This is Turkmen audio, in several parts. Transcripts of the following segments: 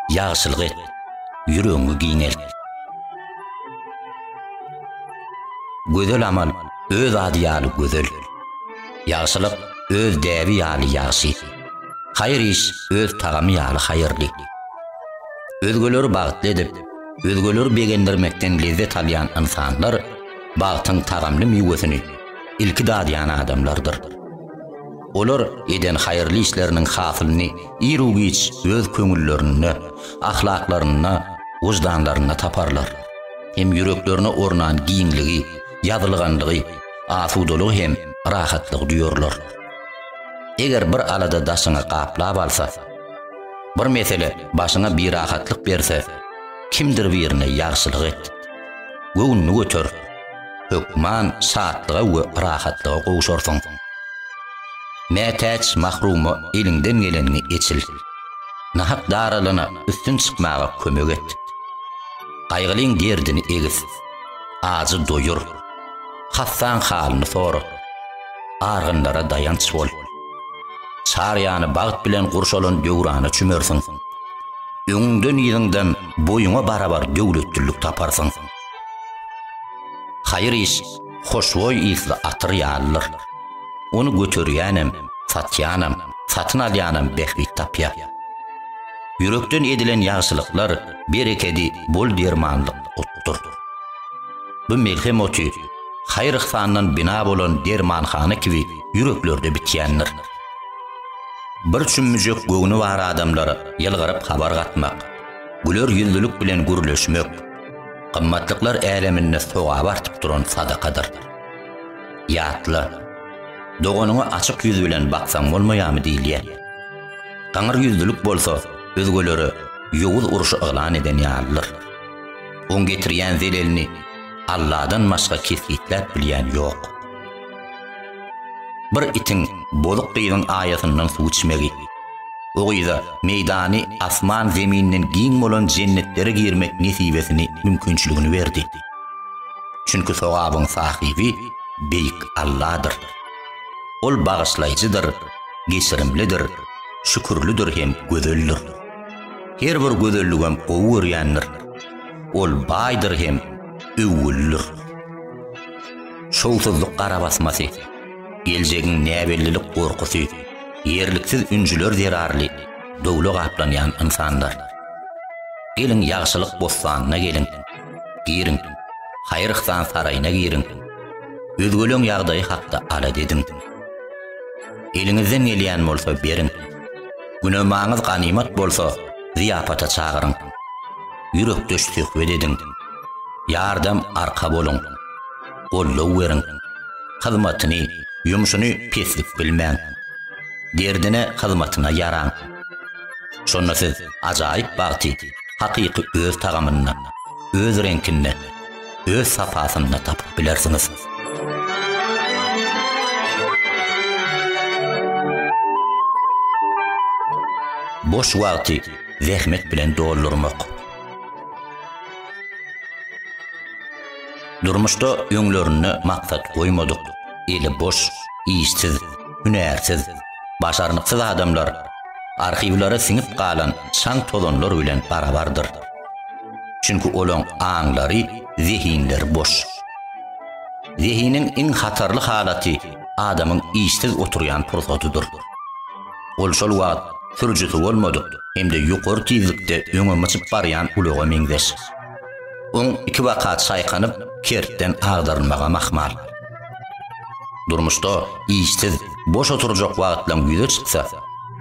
Ýagşylyk et, ýüregiňi giňelt. Gözel amal öz ady ýaly gözel. Ýagşylyk öz däbi ýaly ýagşy. Haýyr iş öz tagamy ýaly haýyrly. Özgeleri bagtly edip, Özgeleri begendirmekden lezzet alýan ynsanlar bagtyň tagamly miwesini ilki dadýan adamlardyr. Olar eden haýyrly işleriniň hasylyny ir-u-giç öz köňüllerinde, ahlaklarynda, wyždanlarynda taparlar. Hem ýüreklerine ornan giňligi, ýazylganlygy, asudalygy hem rahatlygy duýarlar. Eger bir alada daşyňy gaplap alsa, Bir mesele başyňa birahatlyk berse, kimdir birine ýagşylyk et. Göwnüni göter. Hökman şatlyga we rahatlyga gowşarsyň. Mätäç, mahruma eliňden gelenini eçil. Nahak daralana üstün çykmaga kömek et. Gaýgylyň derdini egis. Ajy doýur. Hassaň halyny sora. Argynlara daýanç bol. Çar ýany bagt bilen gurşalan döwrana çümersiň. Öňüňden-yzyňdan boýuňa barabar döwletlilik taparsyň. Haýyr iş hoşboý ysly atyr ýalydyr. Ony göterýänem, satýanam, satyn alýanam bähbit tapýar. Ýürekden edilen ýagşylyklar berekedi bol dermanlyk otdur. Bu melhem oty haýyr-yhsandan bina bolan dermanhana kibi ýüreklerde bitýändir. Bir çümmüjek göwni bar adamlar ýylgyryp habar gatmak, güler ýüzlülik bilen gürleşmek, gymmatlyklar äleminde sogaby artyp duran sadakadyr. Ýatla, Doganyňa açyk ýüz bilen baksaň bolmaýarmy diýilýär. Gaňyr ýüzlülik bolsa özgelere ýowuz urşy yglan eden ýalydyr. Oň getirýän zelelini Alladan başga kesgitläp bilýän ýok. Bir itiň bozuk gyzyň aýasyndan suw içmegi, o gyza meýdany asman-zeminden giň bolan jennetlere girmek nesibesini, mümkinçiligini berdi. Çünki sogabyň sahyby Beýik Alladyr. Ol bagyşlaýjydyr, geçirimlidir, şükürlidir hem gözeldir. Her bir gözelligem gowy görýändir. Ol baýdyr hem öwgülidir. Şowsuzlyk garabasmasy, geljegiň näbellilik gorkusy, ýerliksiz ünjüler zerarly döwle gaplanýan ynsanlar. Geliň ýagşylyk bossanyna geliň, giriň, haýyr-yhsan saraýyna giriň, özgeleň ýagdaýy hakda alada ediň. Eliňizden gelýän bolsa beriň. Günemaňyz ganymat bolsa, zyýapata çagyryň. Ýürekdeş söhbet ediň. Ýardam arka boluň. Goldaw beriň. Hyzmatyny, ýumşuny peslik bilmäň. Derdine, hyzmatyna ýaraň. Şonda siz ajaýyp bagty hakyky öz tagamynda, öz reňkinde, öz sapasynda tapyp bilersiňiz. Boş wagty zähmet bilen doldurmak. Durmuşda öňlerinde maksat goýmadyk, eli boş, işsiz, hünärsiz, başarnyksyz adamlar arhiwlere siňip galan şaň-tozanlar bilen barabardyr. Çünki olaň aňlary, zehinleri boş. Zehiniň iň hatarly halaty adamyň işsiz oturýan pursatydyr. Ol şol wagt sürüjisi bolmadyk hem-de ýokary tizlikde öňe myjyp barýan ulaga meňzeş. Oň iki bakat çaýkanyp, kertden agdarylmagam ahmal. Durmuşda işsiz, boş oturjak wagtlaň ýüze çyksa,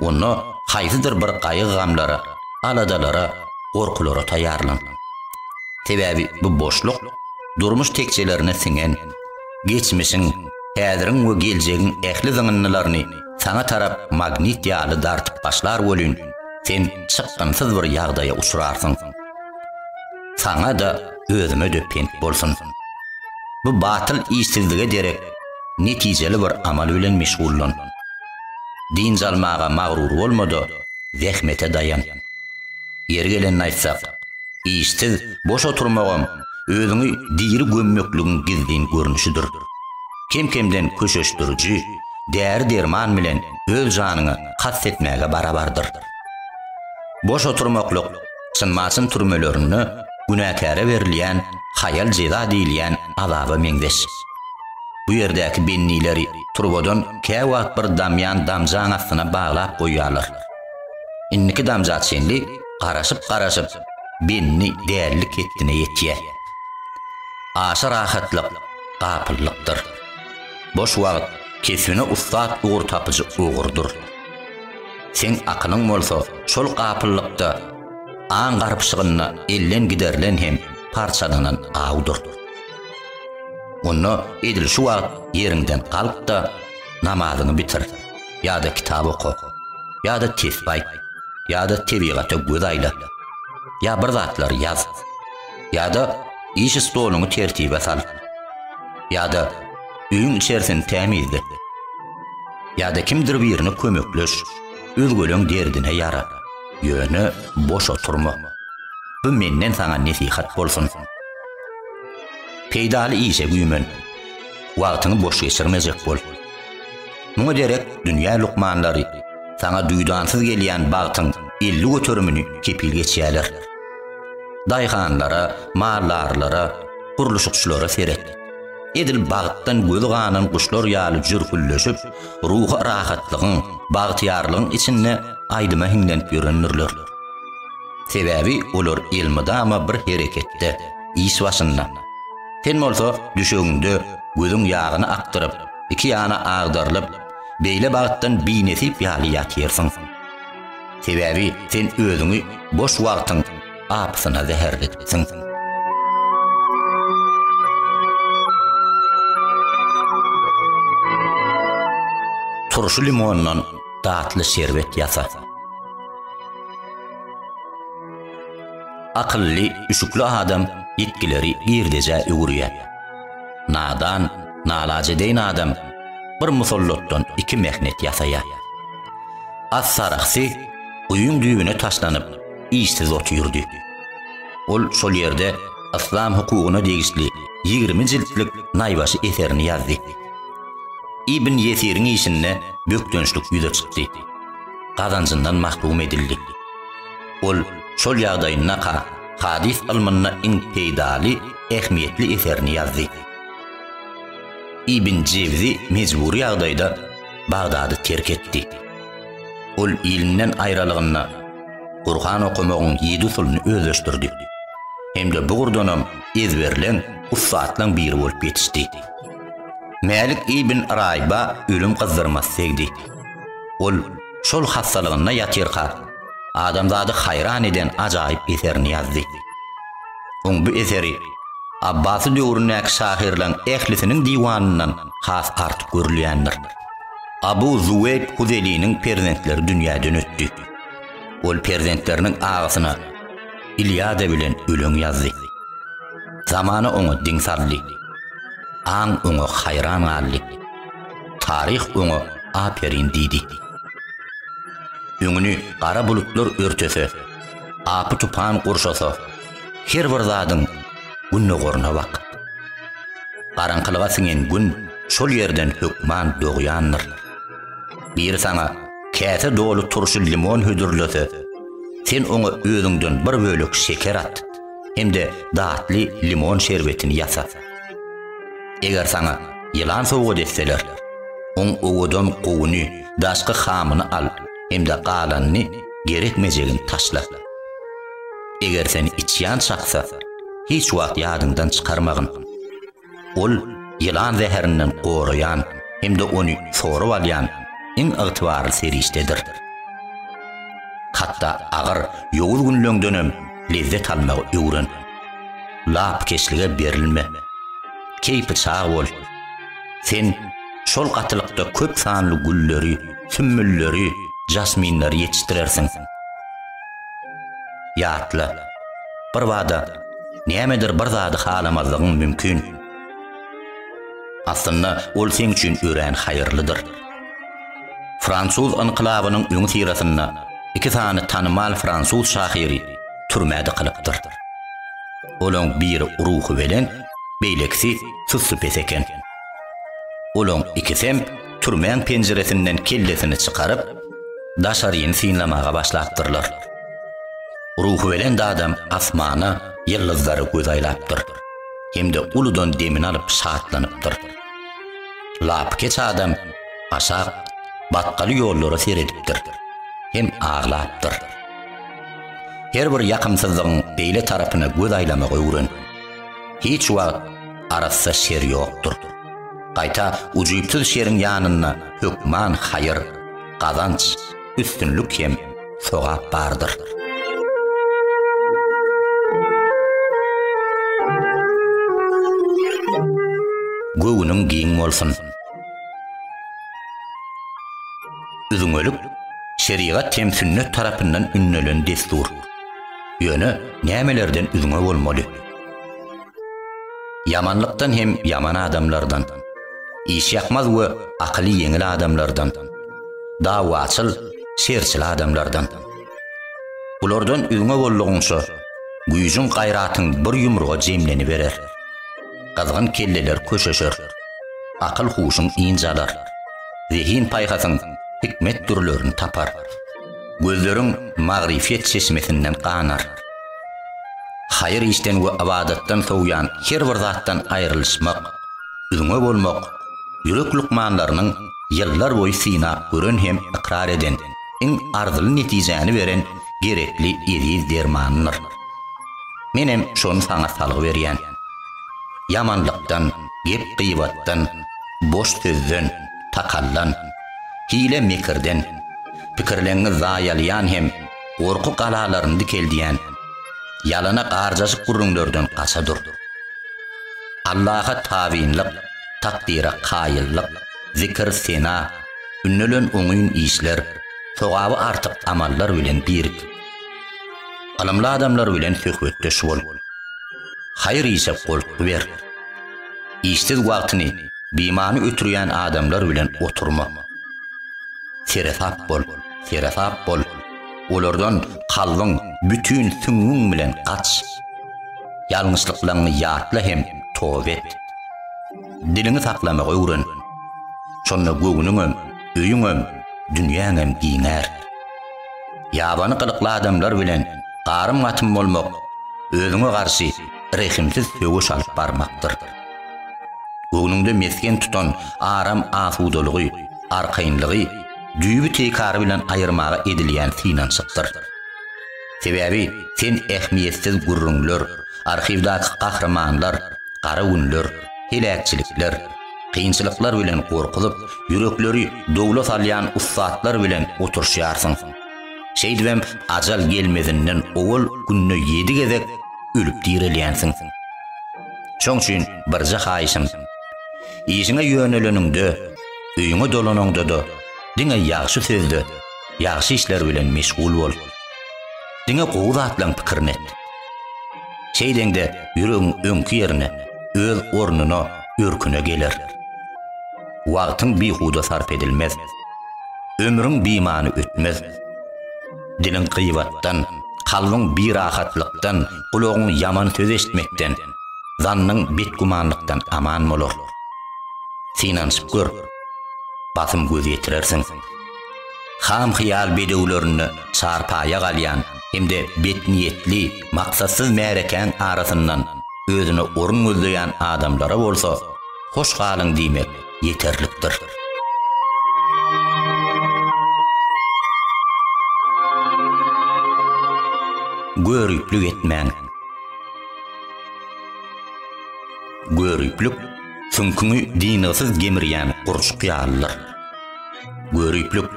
onda haýsydyr bir gaýgy-gamlara, aladalara, gorkulara taýýarlan. Sebäbi bu boşluk durmuş tekjelerine siňen, geçmişiň, häziriň we geljegiň ähli zyňyndylaryny saňa tarap magnit ýaly dartyp başlar welin, sen çykgynsyz bir ýagdaýa uçrarsyň. Saňa-da, özüme-de pent bolsun. Bu batyl işsizlige derek netijeli bir amal bilen meşgullan. Dynç almaga magrury bolma-da, zähmete daýan. Ýeri gelende aýtsak, işsiz, boş oturmagam özüňi diri gömmekligiň gizlin görnüşidir. Kem-kemden köşeşdiriji däri-derman bilen öz janyňy kast etmäge barabardyr. Boş oturmaklyk Çynma-çyn türmelerinde günäkäre berilýän haýal jeza diýilýän azaba meňzeş. Bu ýerdäki bennileri turbadan käwagt bir damýan damjaň astyna baglap goýýarlar. Indiki damja çenli garaşyp-garaşyp, benni dälilik hetdine ýetýär. Aşa rahatlyk gapyllykdyr. Boş wagt kesbine ussat ugurtapyjy ugurdyr. Seň akylyň bolsa şol gapyllykda aň garypşygynda elden giderilen hem parçalanan awdur. Onda edil şu wagt ýeriňden galk-da, namazyňy bitir, ýa-da kitap oka, ýa-da tesbi aýt, ýa-da tebigata göz aýla, ýa bir zatlar ýaz, ýa-da iş stoluňy tertibe sal, ýa-da Öýüň içersini tämizle. Ýa-da kimdir birine kömekleş, özgeleň derdine ýara. Ýöne boş oturma. Bu menden saňa nesihat bolsun. Peýdaly işe güýmen. Wagtyňy boş geçirmejek bol. Muňa derek dünýä lukmanlary saňa duýdansyz gelýän bagtyň elli göterimini kepil geçýärler. Daýhanlara, maldarlara, gurluşykçylara seret. Edil bagtdan gözi ganan guşlar ýaly jürküldeşip, ruhy rahatlygyň, bagtyýarlygyň içinde aýdyma hiňlenip ýörendirler. Sebäbi olar elmydama bir hereketde, iş başynda. Sen bolsa düşegiňde gözüň ýagyny akdyryp, iki ýana agdarylyp, beýle bagtdan binesip ýaly ýatyrsyň. Sebäbi sen özüňi boş wagtyň, Apsyna zäher depdiň. Turşy limondan datly şerbet ýasa. Akylly, üşükli adam ýitgileri girdejä öwürýär. Nadan, nalaje deýin adam bir musallatdan iki mehnet ýasaýar. As saraksy guýyň düýbüne taşlanyp, işsiz otyrdy. Ol şol ýerde Yslam hukugyna degişli ýigrimi jiltlik naýbaşy eserini ýazdy. Ibn Ýesiriň işinde bökdençlik ýüze çykdy. Gazanjyndan mahrum edildi. Ol şol ýagdaýynda-ka hadys ylmynda iň peýdaly, ähmiýetli eserini ýazdy. Ibn Jewzi mejbury ýagdaýda Bagdady terk etdi. Ol ilinden aýralygynda Gurhan okamagyň ýedi usulyny özleşdirdi hem-de bu ugurdanam ezberlen ussatlaň biri bolup ýetişdi. Mälik ibn Raýba ölüm gyzdyrmasy degdi. Ol şol hassalygynda ýatyrka, adamzady haýran eden ajaýyp eserini ýazdy. Oň bu eseri Abbasy döwründäki şahyrlaň ählisiniň diwanyndan has artyk görülýändir. Abu Zuweýb Huzeliniň perzentleri dünýäden ötdi. Ol perzentleriniň agysyna Iliada bilen ölen ýazdy. Zamana oňa diň saldy. Aň oňa haýran galdy. Taryh oňa aperin diýdi. Öňüni gara bulutlar örtese, apy-tupan gurşasa, her bir zadyň gündogaryna bak. Garaňkylyga siňen gün şol ýerden hökman dogýandyr. Bir saňa Käse doly turşy limon hödürlese, sen oňa özüňden bir bölek şeker at hem-de datly limon şerbetini ýasa. Eger saňa ýylan sowgat etseler, oň owadan gowuny, daşky hamyny al hem-de galanyny, gerekmejegini taşla. Eger seni içýan çaksa, hiç wagt ýadyňdan çykarmagyn. Ol ýylan zäherinden goraýan hem-de ony sorap alýan iň ygtybarly serişdedir. Hatda agyr, ýowuz günleňden hem lezzet almagy öwren. Lapykeçlige berilme. Keýpi çag bol. Sen şol gatylykda köp sanly gülleri, sümmülleri, jasminleri ýetişdirersiň. Ýatla, birbada nämedir bir zady halamazlygyň mümkin. Aslynda ol seň üçin örän haýyrlydyr. Fransuz ynkylabynyň öňüsyrasynda iki sany tanymal fransuz şahyry türmä dykylypdyr. Olaň biri ruhubelent, beýlekisi süssu-pes eken. Olaň ikisem türmäň penjiresinden kellesini çykaryp, daşaryny synlamaga başlapdyrlar. Ruhubelent adam asmana, ýyldyzlara göz aýlapdyr hem-de uludan demini alyp şatlanypdyr. Lapykeç adam aşak, batgaly ýollara seredipdir hem aglapdyr. Her bir ýakymsyzlygyň beýle tarapyna göz aýlamagy öwren. Hiç wagt arassa şer ýokdur. Gaýta ujypsyz şeriň ýanynda hökman haýyr, gazanç, üstünlik hem sogap bardyr. göwnüň giň bolsun. Üzüňelik şerigat hem sünnet tarapyndan ünnelen destur. Ýöne nämelerden üzňe bolmaly? Ýamanlykdan hem ýaman adamlardan, işýakmaz we akyly ýeňil adamlardan, dawaçyl, şerçil adamlardan. Bulardan öňe boldugyňça, güýjüň-gaýratyň bir ýumruga jemleniberer. Gyzgyn kelleler köşeşer, akyl-huşuň ynjalar, zehin-paýhasyň hikmet dürlerini tapar, gözleriň magryfýet çeşmesinden ganar. Haýyr işden we ybadatdan sowýan her bir zatdan aýrylyşmak, üzňe bolmak ýürek lukmanlarynyň ýyllar boýy synap gören hem ykrar eden, iň arzyly netijäni beren gerekli eziz dermanydyr. Menem şony saňa salgy berýän. Ýamanlykdan, gep-gybatdan, boş sözden, takallan, hile-mekirden, pikirleňňi zaýalaýan hem Gorky galalaryny dikeldýän ýalana garjaşyp gürrüňlerden gaça dur. Allaha tabynlyk, takdyra kaýyllyk, zikir-sena, ünnelen oňyn işler, sogaby artyk amallar bilen birik. Ylymly adamlar bilen söhbetdeş bol. Haýyr işe goltgy ber. Işsiz wagtyny bimany ötürýän adamlar bilen oturma. Seresap bol. Seresap bol, olardan kalbyň, bütin süňňüň bilen gaç. Ýalňyşlyklaryňy ýatla hem toba et. Diliňi saklamagy öwren. Şonda göwnüňem, öýüňem, dünýäňem giňär. Ýabany gylykly adamlar bilen garym-gatym bolmak özüňe garşy rehimsiz söweş alyp barmakdyr. Göwnüňde mesgen tutan aram-asudalygy, arkaýynlygy düýbi teýkary bilen aýyrmaga edilýän synanyşykdyr. Sebäbi sen ähmiýetsiz gürrüňler, arhiwdaky gahrymanlar, gara günler, heläkçilikler, kynçylyklar bilen gorkuzyp, ýürekleri dowla salýan ussatlar bilen oturyşýarsyň. Şeýdibem ajal gelmezinden owal günde ýedi gezek ölüp direlýänsiň. Şoň üçin birje haýyşym. Işiňe ýöneleniňde, Öýüňe dolanyňda-da, diňe ýagşy sözle, ýagşy işler bilen meşgul bol. Diňe gowy zatlaryň pikirini et. Şeýdende ýüregiň öňki ýerine, öz ornuna, örküne geler. Wagtyň bihuda sarp edilmez. Ömrüň bimany ötmez. Diliň gybatdan, kalbyň birahatlykdan, gulagyň ýaman söz eşitmekden, zannyň betgümanlykdan aman bolar. Synanyşyp gör. Basym göz ýetirersiň. Ham-hyýal bedewlerinde çarpaýa galýan hem-de betniýetli, maksatsyz märekäň arasyndan özüne orun gözleýän adamlara bolsa hoş galyň diýmek ýeterlikdir. Göriplik etmäň. Göriplik, süňküňi dyngysyz gemirýän gurçuk ýalydyr. Göriplik,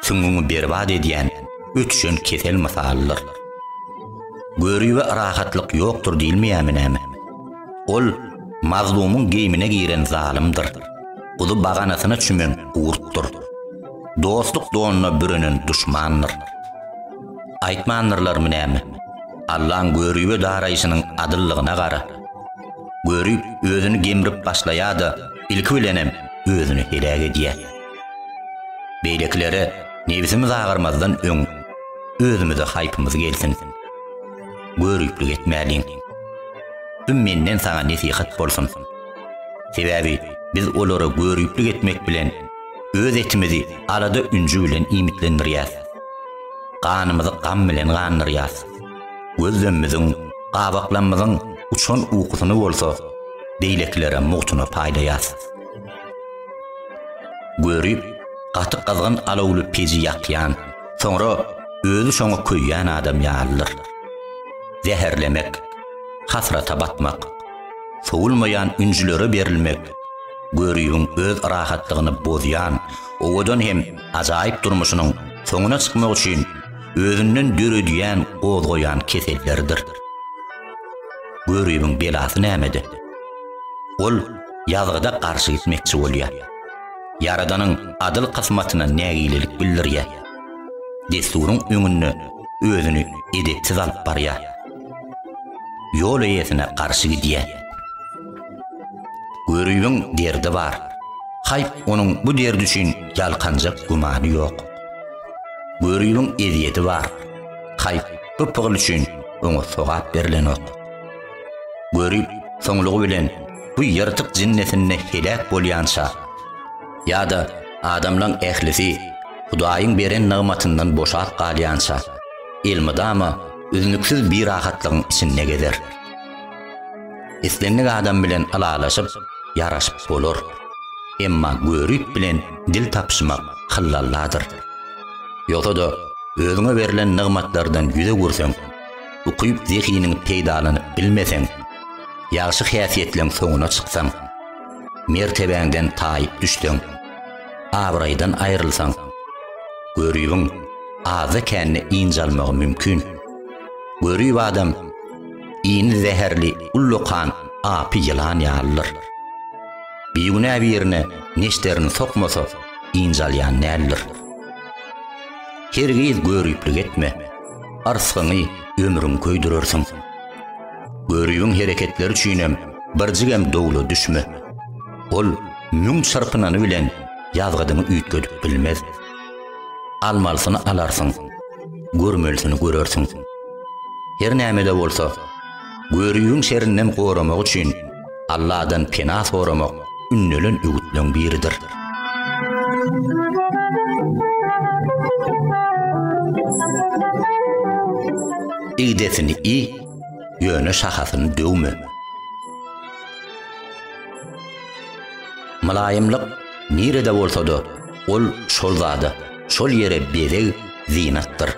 süňňüňi berbat edýän ötüşen kesel mysalydyr. Göribe rahatlyk ýokdur diýilmeýärmi näme? Ol mazlumyň geýmine giren zalymdyr. Guzy baganasyna çümen gurtdur. Dostluk donuna bürenen duşmandyr. Aýtmandyrlarmy näme? Allaň göribe daraýşynyň adyllygyna gara. Göri özüni gemrip başlaýar-da, ilki bilenem özüni heläk edýär. Beýlekilere nebsimiz agyrmazdan öň özümize haýpymyz gelsin. Göriplik etmäliň. Bu menden saňa nesihat bolsun. Sebäbi biz olara göriplik etmek bilen öz etimizi alada-ünji bilen iýmitlendirýäs. Ganymyzy gam bilen gandyrýas. Gözlemimiziň, gabaklamymyzyň uçan ukusyny bolsa beýlekilere mugtuna paýlaýarys. Görip, gaty gyzgyn alawly peji ýakýan, soňra özi şoňa köýýän adam ýalydyr. Zäherlemek, hasrata batmak, sowulmaýan ünjülere berilmek Göribiň öz rahatlygyny bozýan, owadan hem ajaýyp durmuşynyň soňuna çykmak üçin özünden döredýän gozgaýan keselleridir. Göribiň belasy nämede? Ol ýazgyda garşy gitmekçi bolýar. Ýaradanyň adyl kysmatyna nägilelik bildirýär. Dessuryň öňünde özüni edepsiz alyp barýar. Ýol eýesine garşy gidýär. Göribiň derdi bar. Haýp onuň bu derdi üçin ýalkanjak gümany ýok. Görübiň ezýedi bar. Haýp, bu pygyl üçin oňa sogap berilenok. Görüp, soňlugy bilen bu ýyrtyk jyn neslinde heläk bolýança, ýa-da adamlaň ählisi Hudaýyň beren nygmatyndan boşap galýança, elmydama üznüksiz birahatlygyň içinde gezer. Islendik adam bilen ylalaşyp, ýaraşyp bolar. Emma görik bilen dil tapyşmak hyllalladyr. Ýogsa-da, özüňe berlen nygmatlardan ýüz öwürseň, ukyp-zehiniňi peýdalanyp bilmeseň, ýagşy häsiýetleň soňuna çyksaň, mertebäňden taýyp düşseň, abraýdan aýrylsaň, göribiň azda-kände ynjalmagy mümkin. Görip adam Ini zäherli ullakan apy ýylan ýalydyr. Bigünä birine neşderini sokmasa, ynjalýan däldir. Hergiz göriplik etme. Yrsgyňy ömrüň köýdürersiň. Göribiň hereketleri üçinem birjigem dowla düşme. Ol müň çyrpynany bilen ýazgydyňy üýtgedip bilmez. Almalysyny alarsyň, görmelisini görersiň. Her näme-de bolsa, görügiň şerinden goramak üçin Alladan pena soramak ünnelen öwütleriň biridir. Igdesini i, ýöne şahasyny döwme. Mylaýymlyk Nirede bolsa-da, ol şol zada, şol ýere bezeg, zynatdyr.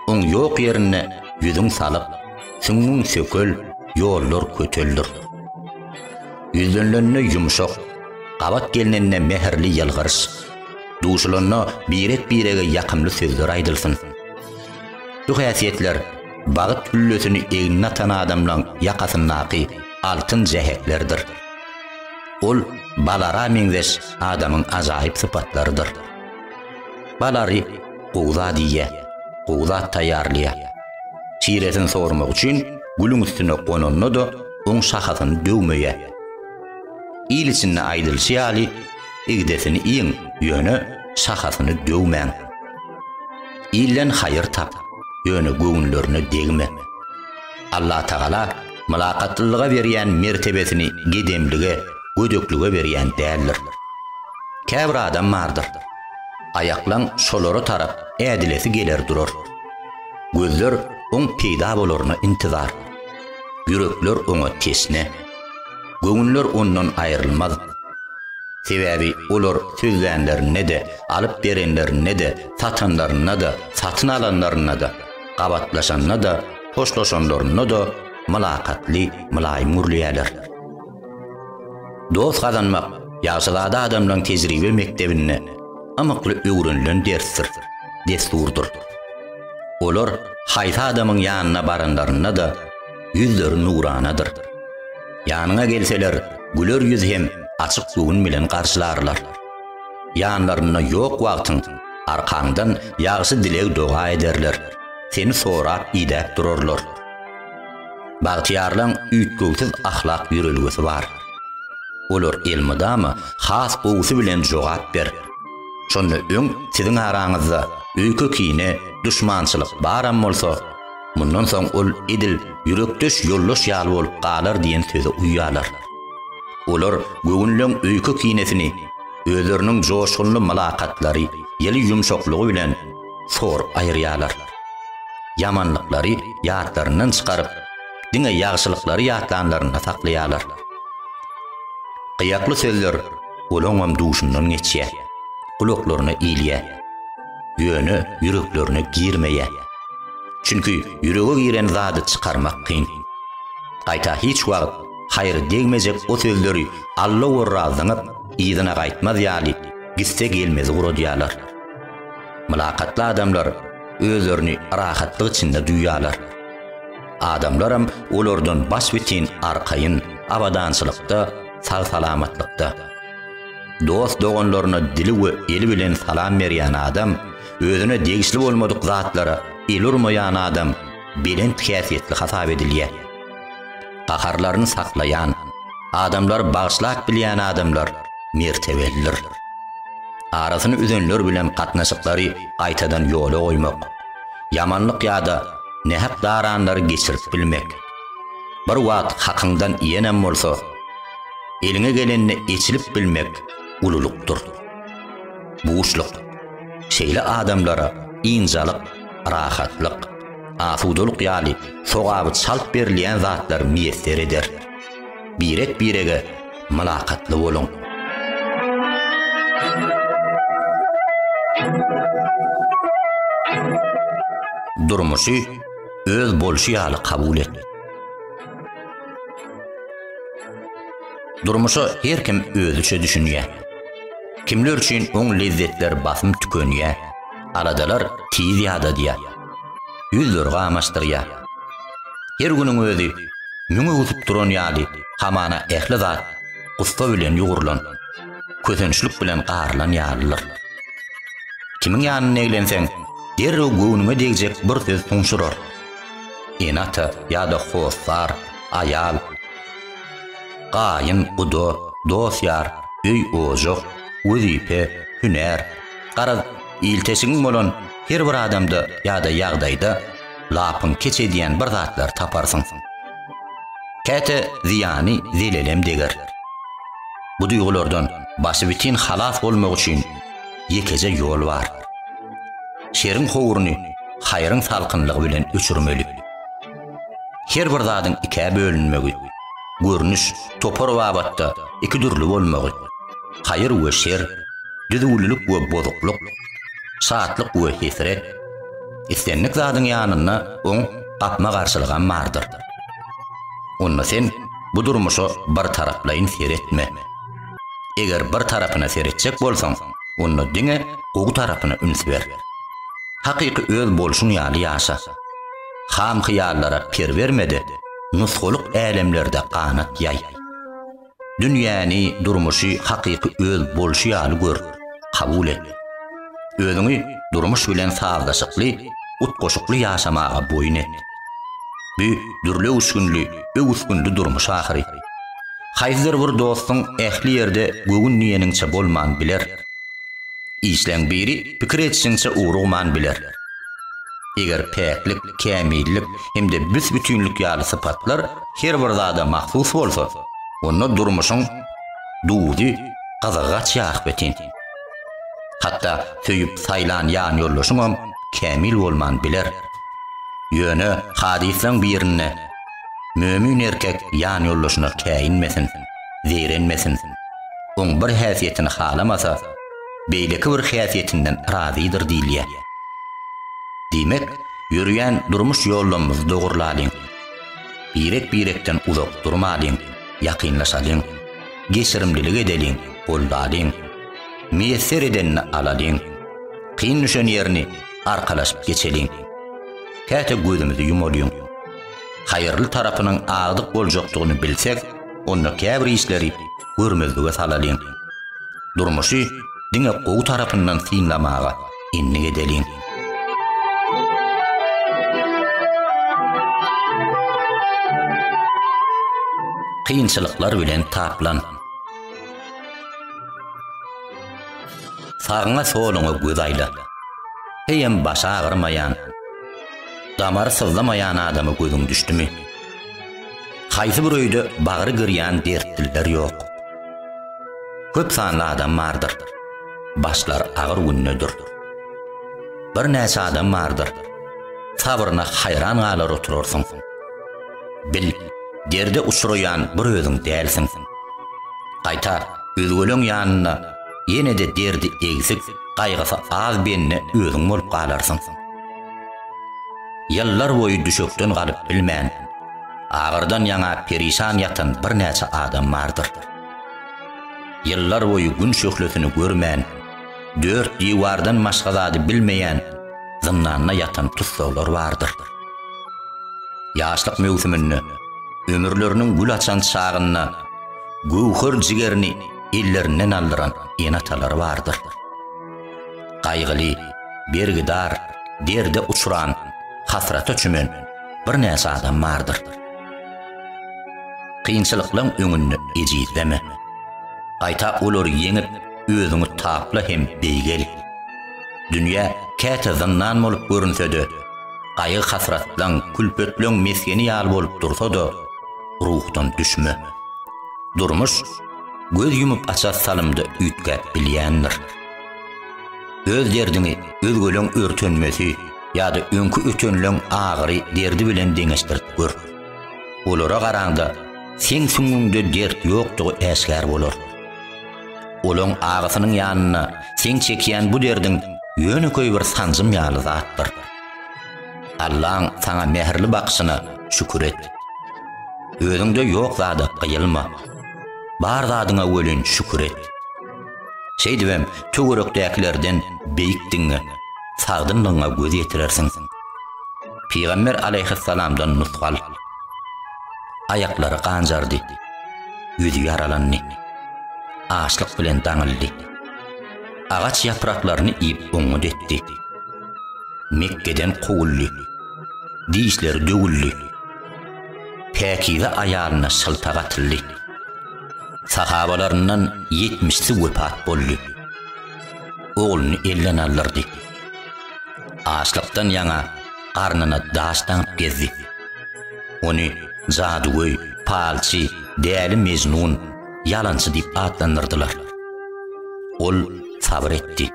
Oň ýok ýerinde ýüzüň salyk, süňňüň sökel, ýollar köteldir. Ýüzlenilende ýumşak, gabat gelnende mähirli ýylgyryş, duşulanda birek-birege ýakymly sözler aýdylsyn. Bu häsiýetler bagt güllesini egnine atan adamlaň ýakasyndaky altyn jäheklerdir. Ol Balara meňzeş adamyň ajaýyp sypatlarydyr. Balary gowy zat iýýär, gowy zat taýýarlaýar. Tiresini sormak üçin gülüň üstüne gonanda-da oň şahasyny döwmeýär. Il içinde aýdylyşy ýaly, Igdesini iýiň, ýöne şahasyny döwmäň. Ilden haýyr tap, ýöne göwünlerine degme. Allatagala mylakatlylyga berýän mertebesini gedemlige, gödeklige berýän däldir. Käbir adam bardyr. Aýaklaň şolara tarap ädilesi geler durar. Gözler oň peýda bolaryna intizar. Ýürekler oňa teşne. Göwünler ondan aýrylmaz. Sebäbi olar sözlänlerinde-de, alyp berenlerinde-de, satanlarynda-da, satyn alanlarynda-da, gabatlaşanda-da Hoşlaşanlarynda-da mylakatly, mylaýym gürleýärler. Dost gazanmak ýagşyzada adamlaryň tejribe mekdebinde ymykly öwrenilen dersdir, dessurdyr. Olar haýsy adamyň ýanyna baranlarynda-da, ýüzleri nuranadyr. Ýanyňa gelseler, güler ýüz hem açyk göwün bilen garşylarlar. Ýanlarynda ýok wagtyň arkaňdan ýagşy dileg-doga ederler. Seni sorap idäp durarlar. Bagtyýarlaň üýtgewsiz ahlak ýörelgesi bar. Olar elmydama has gowusy bilen jogap ber. Şonda öň siziň araňyzda öýke-kine, duşmançylyk baram bolsa, mundan soň ol edil ýürekdeş ýoldaş ýaly bolup galar diýen söze uýýarlar. Olar göwünleň öýke-kinesini özleriniň joşgunly mylaakatlary, ýyly ýumşaklygy bilen, sorup aýyrýarlar. Ýamanlyklary ýatlaryndan çykaryp, diňe ýagşylyklary ýatlanlarynda saklaýarlar. Gyýakly sözler olaňam duşundan geçýär, gulaklaryna ilýär, ýöne ýüreklerine girmeýär. Çünki ýürege giren zady çykarmak kyn. Gaýta hiç wagt haýry degmejek o sözleri alla-gorra zyňyp, yzyna gaýtmaz ýaly gitse gelmezi guradýarlar. Mylakatly adamlar özlerini rahatlyk içinde duýýarlar. Adamlaram olardan baş bitin arkaýyn, abadançylykda, sag-salamatlykda. Dost-doganlaryna dili we eli bilen salam berýän adam, özüne degişli bolmadyk zatlara el urmaýan adam, belent häsiýetli hasap edilýär. Gaharlaryny saklaýan, adamlary bagyşlap bilýän adamlar mertebelidir. Arasyny üzenler bilen gatnaşyklary gaýtadan ýola goýmak, ýamanlyk ýa-da nähak daranlary geçirip bilmek, bir wagt hakyňdan iýenem bolsa, eliňe gelende eçilip bilmek ululykdyr. Buşluk, şeýle adamlara ynjalyk, rahatlyk, asudalyk ýaly sogaby çalt berilýän zatlar miýesser eder. Birek-birege mylakatly boluň! Durmuşy öz bolşy ýaly kabul et. Durmuşa her kim özüçe düşünýär. Kimler üçin oň lezzetler basym tükenýär. Aladalar tiz ýadadýar. Ýüzleri gamaşdyrýar. Her günüň özi müň öwsüp duran ýaly hamana ähli zat gussa bilen ýugrulan, kösençlik bilen garylan ýalydyr. Kimiň ýanyna eglenseň, derrew göwnüňe degjek bir söz suňşurar. Ene-ata ýa-da hossar, aýal, gaýyn, guda, dost-ýar, öý-ojak, wezipe, hünär, Garaz, ilteşigiň bolan her bir adamda ýa-da ýagdaýda lapyň keç edýän bir zatlary taparsyň. Käte zyýany, zelelem deger. Bu duýgulardan başy bitin halas bolmak üçin ýekeje ýol bar. Şeriň howruny haýryň salkynlygy bilen öçürmeli. Her bir zadyň ikä bölünmegi, görnüş, topar babatda iki dürli bolmagy. haýyr we şer, düzgünlilik we bozuklyk, şatlyk we hesret, islendik zadyň ýanynda oň gapma-garşylygam bardyr. Onda sen bu durmuşa bir taraplaýyn seretme. Eger bir tarapyna seretjek bolsaň, onda diňe gowy tarapyna üns ber. Hakyky öz bolşuň ýaly ýaşa. Ham hyýallara per berme-de, nusgalyk älemlerde ganat ýaý. Dünýäni, durmuşy hakyky öz bolşy ýaly gör, kabul et. Özüňi durmuş bilen sazlaşykly, utgaşykly ýaşamaga boýun et. Bu dürli öwüşginli, öwüsginli durmuş ahyry. Haýsydyr bir dostuň ähli ýerde göwün diýeniňçe bolman biler. Işleň biri pikir edişiňçe ugrugman biler. Eger päklik, kämillik hem-de büs-bütinlik ýaly sypatlar her bir zada mahsus bolsa, onda durmuşyň duzy gyzygy gaçýar ahbetin. Hatda söýüp saýlan ýanýoldaşyňam kämil bolman biler. Ýöne hadyslaň birinde, Mömin erkek ýanýoldaşyna käýinmesin, zeýrenmesin. Oň bir häsiýetini halamasa, beýleki bir häsiýetinden razydyr diýilýär. Diýmek, ýörýän durmuş ýollamyzy dogurlalyň. Birek-birekden uzak durmalyň, ýakynlaşalyň. Geçirimlilik edeliň, goldalyň. Miýesser edenini alalyň. Kyn düşen ýerini arkalaşyp geçeliň. Käte gözümizi ýumalyň. haýyrly tarapynyň agdyk boljakdygyny bilsek, onda käbir işleri görmezlige salalyň. Durmuşy diňe gowy tarapyndan synlamaga endik edeliň. Kynçylyklar bilen taplan. Sagyňa soluňa göz aýla. Heýem başa agyrmaýan, Damary syzlamaýan adama gözüň düşdümi? Haýsy bir öýde bagry gyrýan dertlilder ýok? Köp sanly adam bardyr. Başlary agyr gündedir. Birnäçe adam bardyr. Sabryna haýran galar oturarsyň. Bil, derde uçraýan bir özüň dälsiň. Gaýta, özgeleň ýanynda ýene-de derdi egsik, gaýgysy az bende özüň bolup galarsyň. Ýyllar boýy düşekden galyp bilmän, agyrdan ýaňa perişan ýatan birnäçe adam bardyr. Ýyllar boýy gün şöhlesini görmän, dört diwardan başga zady bilmeýän zyndanda ýatan tussaglar bardyr. Ýaşlyk möwsüminde, ömürleriniň gül açan çagynda göwher jigerini ellerinden aldyran ene-atalar bardyr. Gaýgyly, bergidar, derde uçran, hasrata çümen birnäçe adam bardyr. Kynçylyklaryň öňünde ejizleme. Gaýta olary ýeňip, özüňi tapla hem beýgel. Dünýä käte zyndan bolup görünse-de, gaýgy-hasratlaryň, külpetleň mesgeni ýaly bolup dursa-da, ruhdan düşme. Durmuş göz ýumup-açar salymda üýtgäp bilýändir. Öz derdiňi özgeleň örtenmesi ýa-da öňki ötenleň agyry derdi bilen deňeşdirip gör. Olara garaňda seň süňňüňde dert ýokdugy äşgär bolar. Olaň agysynyň ýanynda seň çekýän bu derdiň ýönekeý bir sanjym ýaly zatdyr. Allaň saňa mähirli bakyşyna şükür et. Özüňde ýok zada gyýylma. Bar zadyňa welin şükür et. Şeýdibem, töwerekdäkilerden beýikdigiňe, sagdynlygyňa göz ýetirersiň. Pygamber alaýhyssalamdan nusga al. Aýaklary ganjardy. Ýüzi ýaralandy. Açlyk bilen daňyldy. Agaç ýapraklaryny iýip oňňut etdi. Mekgeden kowuldy. Dişleri döwüldi. Päkize aýalyna şyltak atyldy. Sahabalaryndan ýetmişisi wepat boldy. Ogluny elden aldyrdy. Açlykdan ýaňa garnyna daş daňyp gezdi. Ony jadygöý, palçy, däli Mejnun, ýalançy diýip atlandyrdylar. Ol sabyr etdi.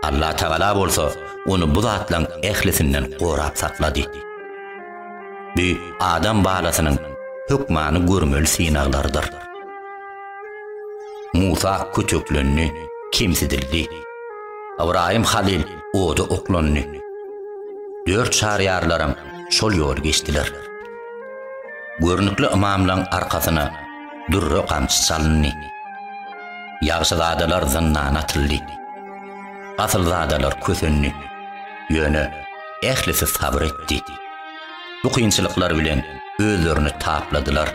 Allatagala bolsa ony bu zatlaryň ählisinden gorap saklady. Bu adam balasynyň hökmany görmeli synaglarydyr. Musa köteklendi, kemsidildi. Ybraýym Halyl oda oklandy. Dört çaryýarlaram şol ýoly geçdiler. Görnükli ymamlaň arkasyna dürre gamçy çalyndy. Ýagşyzadalar zyndana atyldy. Asylzadalar kösendi. Ýöne ählisi sabyr etdi. Bu kynçylyklar bilen özlerini tapladylar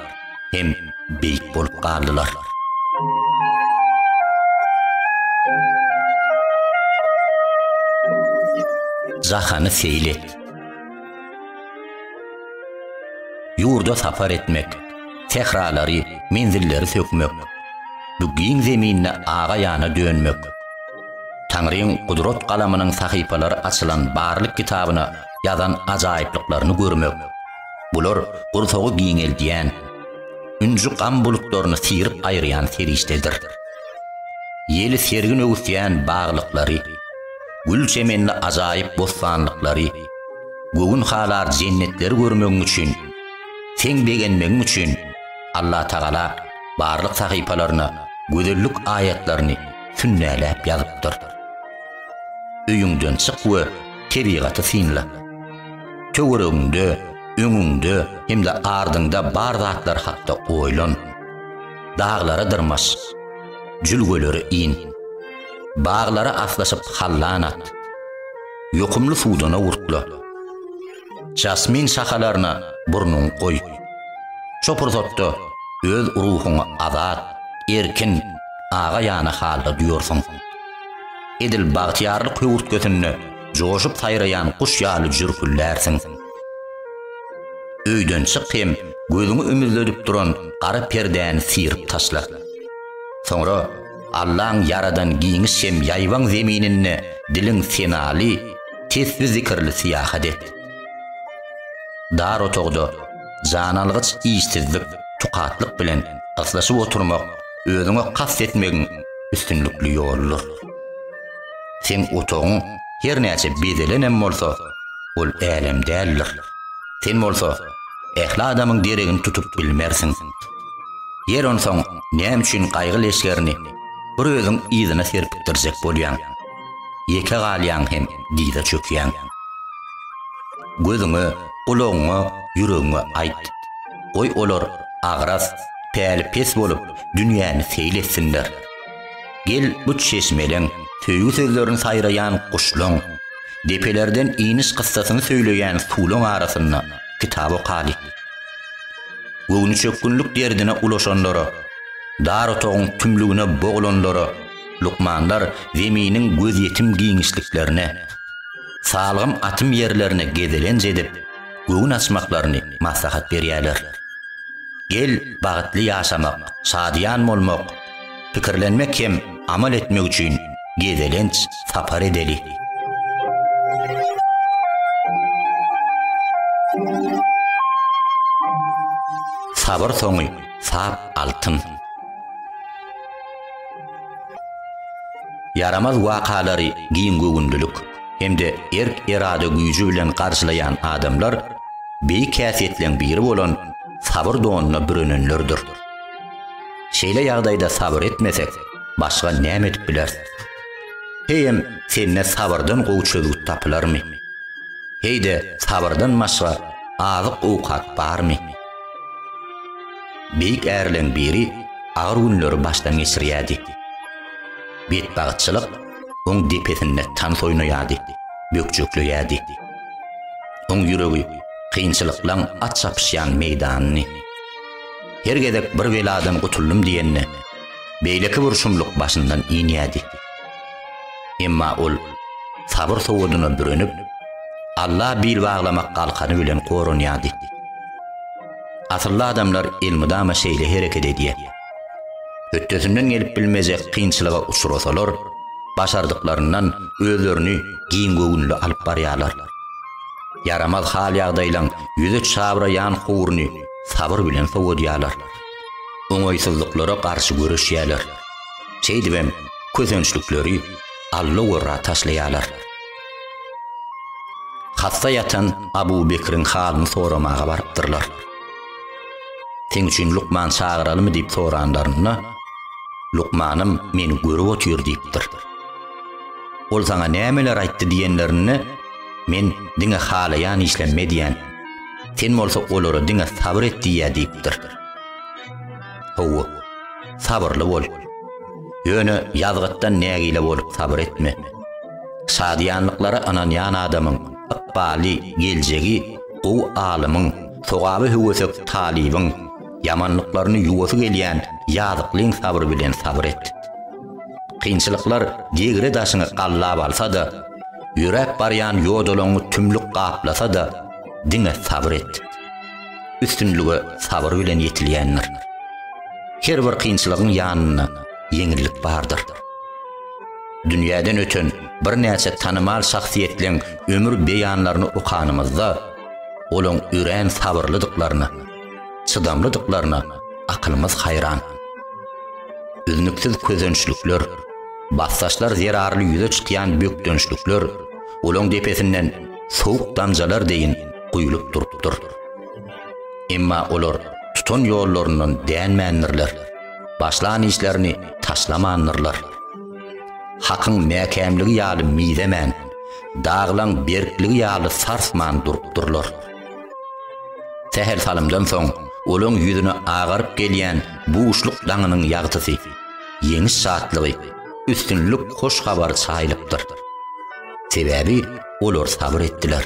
hem beýik bolup galdylar. Jahany seýil et. Ýurda sapar etmek, sähralary, menzilleri sökmek, bu giň zeminde aga ýana dönmek, Taňryň gudrat galamynyň sahypalary açylan barlyk kitabyna ýazan ajaýyplyklaryny görmek, bular gursagy giňeldýän, ünji-gam bulutlaryny syryp aýyrýan serişdedir. Ýeli sergin öwüsýän baglyklary, gül-çemenli ajaýyp bossanlyklary, göwün halar jennetleri görmegiň üçin, seň begenmegiň üçin Allatagala barlyk sahypalaryna gözellik aýatlaryny, sünnäläp ýazypdyr. Öýüňden çyk we tebigaty synla. Töweregiňde, öňüňde hem-de ardyňda bar zatlar hakda oýlan. Daglara dyrmaş, jülgeleri in. Baglara aslyşyp hallan at. Ýokumly suwdan owurtla. Jasmin şahalaryna burnuňy goý. Şo pursatda öz ruhuňy azat, erkin, aga-jana halda duýarsyň. Edil bagtyýarlyk höwürtgesinde joşup saýraýan guş ýaly jürküldärsiň. Öýden çyk hem gözüňi ümüzledip duran gara perdäni syryp taşla. Soňra Allaň ýaradan giňiş hem ýaýbaň zemininde diliň senaly, Tesbi zikirli syýahat et. Dar otagda janalgyç işsizlik, tukatlyk bilen gyslyşyp oturmak özüňe kast etmegiň üstünlikli ýoludyr. Seň otagyň her näçe bezelenem bolsa, ol älem däldir. Sen bolsa ähli adamyň deregini tutup bilmersiň. Ýer onsoň näme üçin gaýgy leşgerini bir özüň yzyna serpikdirjek bolýaň? Ýeke galýaň hem dyza çökýäň. Gözüňe, gulagyňa, ýüregiňe aýt. Goý olar agras, päli pes bolup, dünýäni seýil etsinler. Gel bu çeşmeleň, söýgi sözlerini saýraýan guşlaň, depelerden iniş kyssasyny söýleýän suwlaň arasynda kitap okaly. Göwnüçökgünlik derdine ulaşanlara, dar otagyň tümlügine boglanlara, Lukmanlar Zeminiň gözýetim giňişliklerine, salgym atym ýerlerine gezelenç edip, göwün açmaklaryny maslahat berýärler. Gel, bagtly ýaşamak, şadyýan bolmak, pikirlenmek hem amal etmek üçin gezelenç sapar edeli. Sabyr soňy sap altyn. Ýaramaz wakalary giňgöwünlilik hem-de erk-erada güýji bilen garşylaýan adamlar beýik häsiýetleň biri bolan sabyr donuna bürenenlerdir. Şeýle ýagdaýda sabyr etmesek, başga näme edip bileris? Heýem, sende sabyrdan gowy çözgüt tapylarmy? Heý-de, sabyrdan başga azyk-owkat barmy? Beýik ärleriň biri agyr günleri başdan geçirýärdi. Betbagtçylyk oň depesinde tans oýnaýardy, bökjekleýärdi. Oň ýüregi kynçylyklaň at çapyşýan meýdanyny. Her gezek bir beladan gutuldym diýende, beýleki bir şumluk başyndan inýärdi. Emma ol sabyr sowadyna bürenip, Alla bil baglamak galkany bilen goranýardy. Asylly adamlar elmydama şeýle hereket edýär. Hötdesinden gelip bilmejek kynçylyga uçrasalar, başardyklaryndan özlerini giň göwünli alyp barýarlar. Ýaramaz hal-ýagdaýlaň ýüze çabra-ýan howruny sabyr bilen sowadýarlar. Oňaýsyzlyklara garşy göreşýärler. Şeýdibem, kösençlikleri allo-gurra taşlaýarlar. Hassa ýatan Abu Bekriň halyny soramaga barypdyrlar. Seň üçin lukman çagyralymy diýip soranlarynda, Lukmanym meni görüp otyr diýipdir. Ol saňa nämeler aýtdy diýenlerinde, Men diňe halaýan işlerimi edýän. Sen bolsa olara diňe sabyr et diýýä diýipdir. Hawa, sabyrly bol. Ýöne ýazgytdan nägile bolup sabyr etme. Şadyýanlyklara ynanýan adamyň ykbaly, geljegi gowy alymyň, sogaba höwesek talybyň ýamanlyklaryny ýuwasy gelýän ýazyklyň sabry bilen sabyr et. Kynçylyklar degre daşyňy gallap alsa-da, ýöräp barýan ýodalaňy tümlük gaplasa-da, diňe sabyr et. üstünlige sabyr bilen ýetilýändir. Her bir kynçylygyň ýanynda ýeňillik bardyr. Dünýäden öten birnäçe tanymal şahsyýetleň ömür beýanlaryny okanymyzda, olaň örän sabyrlydyklaryna, çydamlydyklaryna akylymyz haýran. Üznüksiz kösençlikler, basdaşlar zerarly ýüze çykýan bökdençlikler olaň depesinden Sowuk damjalar deýin guýlup durupdyr. Emma olar tutan ýollaryndan dänmändirler, başlan işlerini taşlamandyrlar. Hakyň mäkämligi ýaly mizemän, daglaň berkligi ýaly sarsman durupdyrlar. Sähel salymdan soň, olaň ýüzüne agaryp gelýän buşluk daňynyň ýagtysy, ýeňiş şatlygy, üstünlik hoş habary çaýylypdyr. Sebäbi olar sabyr etdiler.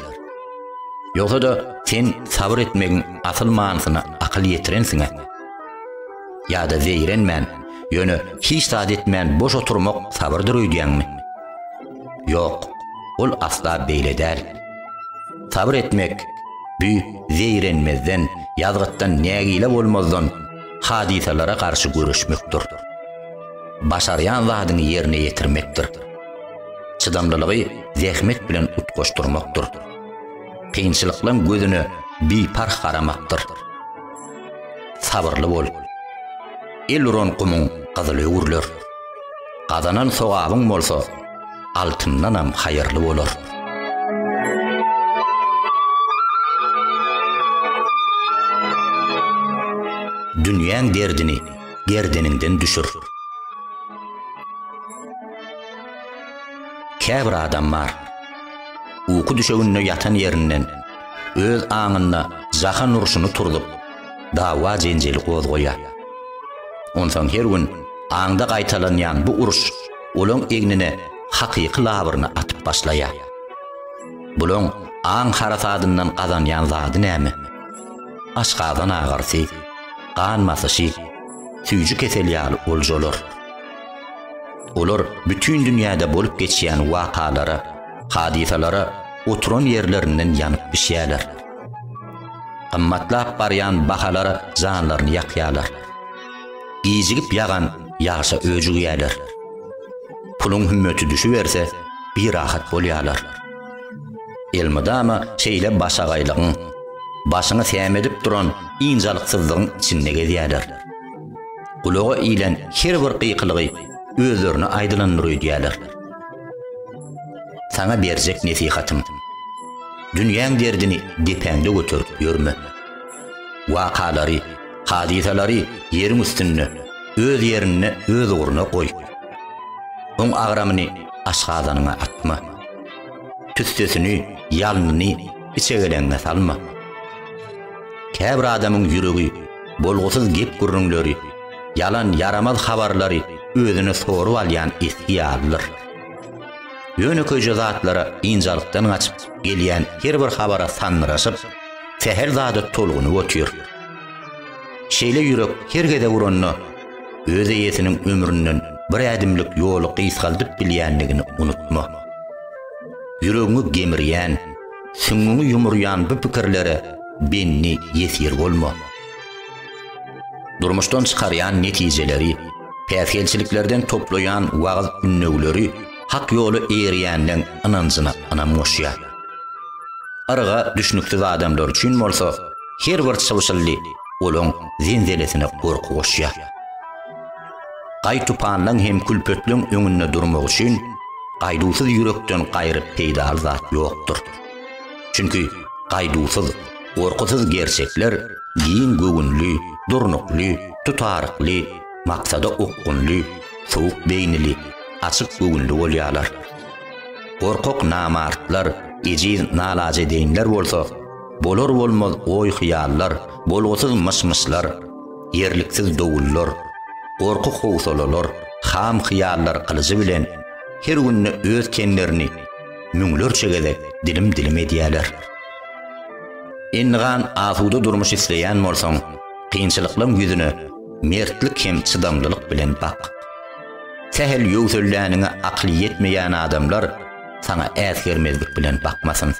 Ýogsa-da sen sabyr etmegiň asyl manysyna akyl ýetirensiň-ä. Ýa-da zeýrenmän, ýöne hiç zat etmän boş oturmak sabyrdyr öýdýäňmi? Ýok, ol asla beýle däl. Sabyr etmek, bu zeýrenmezden, ýazgytdan nägile bolmazdan hadysalara garşy göreşmekdir. Başarýan zadyňy ýerine ýetirmekdir. çydamlylygy zähmet bilen utgaşdyrmakdyr. Kynçylyklaryň gözüne biparh garamakdyr. Sabyrly bol. El uran gumuň gyzyly öwrüler. Gazanan sogabyň bolsa, altyndanam haýyrly bolar. Dünýäň derdini gerdeniňden düşür. Käbir adam bar. Uky düşeginde ýatan ýerinden öz aňynda jahan urşuny turzup, dawa-jenjeli gozgaýar. Onsoň her gün aňda gaýtalanýan bu uruş olaň egnine hakyky labyryny atyp başlaýar. Bulaň aň harasadyndan gazanýan zady näme? Aşgazan agyrysy, gan basyşy, süýji keseli ýaly oljalar. Olar bütin dünýäde bolup geçýän wakalara, hadysalara oturan ýerlerinden ýanyp bişýärler. Gymmatlap barýan bahalara janlaryny ýakýarlar. Gijigip ýagan ýagşa öjügýärler. Puluň hümmeti düşüberse, birahat bolýarlar. Elmydama şeýle başagaýlygyň, başyňy sämedip duran ynjalyksyzlygyň içinde gezýärler. Gulaga ilen her bir gykylygy özlerine aýdylandyr öýdýärler. Saňa berjek nesihatym. Dünýäň derdini depäňde göterip ýörme. Wakalary, hadysalary ýeriň üstünde, öz ýerinde, öz ugruna goý. Oň agramyny aşgazanyňa atma. Tüssesini, ýalnyny içegeleňňe salma. Käbir adamyň ýüregi bolgusyz gep-gürrüňleri, ýalan ýaramaz habarlary özüne sorup alýan esgi ýalydyr. Ýönekeýje zatlara ynjalykdan gaçyp, gelýän her bir habara sandyraşyp, sähel zada tolgunyp otyr. Şeýle ýürek her gezek uranda, öz eýesiniň ömründen bir ädimlik ýoly gysgaldyp bilýändigini unutma. Ýüregiňi gemirýän. Süňňüňi ýumurýan bu pikirlere bendi ýesir bolma. Durmuşdan çykarýan netijeleri, päsgelçiliklerden toplaýan wagyz-ünnewleri hak ýola eýerýänleň ynanjyna ynam goşýar. Yrga düşnüksiz adamlar üçin bolsa her bir çybşyldy olaň zenzelesine gorky goşýar. Gaý-tupanlaň hem külpetleň öňünde durmak üçin gaýduwsyz ýürekden gaýry peýdaly zat ýokdur. Çünki gaýduwsyz, gorkusyz gerçekler giň göwünli, durnukly, tutarykly, maksada okgunly, sowuk beýnili, açyk göwünli bolýarlar. Gorkak namartlar, ejiz nalajedeýinler bolsa, bolar-bolmaz oý-hyýallar, bolgusyz myş-myşlar, ýerliksiz dowullar, gorky-howsalalar, ham hyýallar gylyjy bilen her günde öz tenlerini müňlerçe gezek dilim-dilim edýärler. Endigan asuda durmuş isleýän bolsaň, kynçylyklaň ýüzüne mertlik hem çydamlylyk bilen bak. Sähel ýöwselläniňe akyly ýetmeýän adamlar saňa äsgermezlik bilen bakmasyn.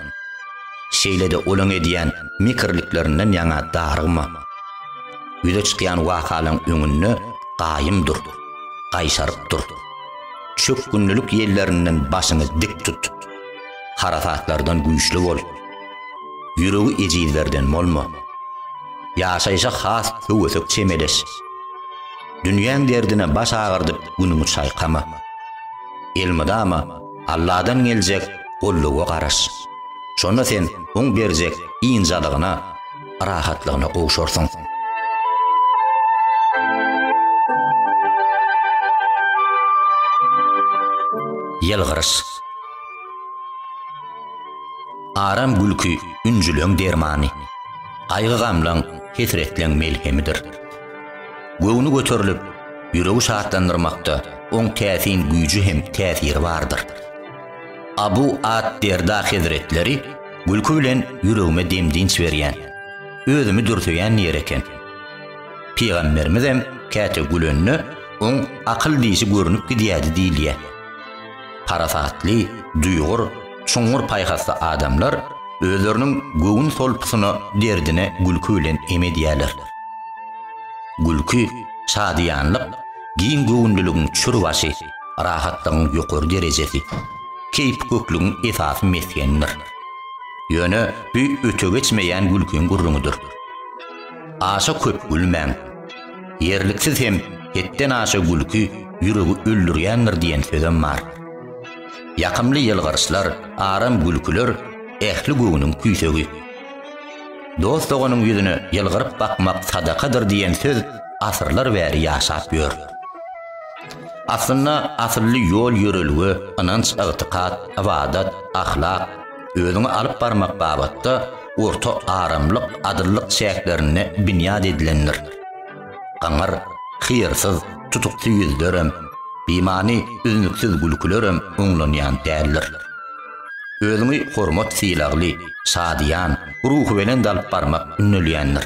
Şeýle-de olaň edýän mekirliklerinden ýaňa darygma. Ýüze çykýan wakalaryň öňünde gaýym dur, gaýşaryp dur. Çökgünlilik ýellerinden başyňy dik tut. Harasatlardan güýçli bol. Ýüregi ejizlerden bolma. Ýaşaýşa has höwesek çemeleş. Dünýäň derdine baş agyrdyp günüňi çaýkama. Elmydama Alladan geljek golluga garaş. Şonda sen oň berjek ynjalygyna, rahatlygyna gowşarsyň. Ýylgyryş Aram gülki ünjüleň dermany, gaýgy-gamlaň, hesretleň melhemidir. Göwni göterilip, ýüregi şatlandyrmakda oň täsin güýji hem täsiri bardyr. Abu at-Derda hezretleri Gülki bilen ýüregime dem-dynç berýän, özümi dürseýän ýer eken. Pygamberimizem käte gülende, oň akyl dişi görnüp gidýärdi diýilýär. Parasatly, duýgur, çuňňur paýhasly adamlar özleriniň göwün solpusyna, derdine gülki bilen em edýärler. Gülki, şadyýanlyk, giň göwünliligiň çür başy. Rahatlygyň ýokary derejesi keýpgökligiň esasy mesgenidir. Ýöne bu ötegeçmeýän gülkiň gürrüňidir. Aşa köp gülmäň. Ýerliksiz hem hetdenaşa gülki ýüregi öldürýändir diýen sözem bar. Ýakymly ýylgyryşlar, aram gülküler ähli göwnüň küýsegi. Dost-doganyň ýüzüne ýylgyryp bakmak sadakadyr diýen söz asyrlar bäri ýaşap ýör. Aslynda asylly ýol-ýörelge, ynanç-ygtykat, ybadat, ahlak, özüňi alyp barmak babatda orta aramlyk, adyllyk çäklerinde binýat edilendir. Gaňyr, hyýrsyz, tutukçy ýüzlerem, bimany, üznüksiz gülkülerem oňlanýan däldir. Özüňi hormat-sylagly, şadyýan, ruhubelent alyp barmak ündelýändir.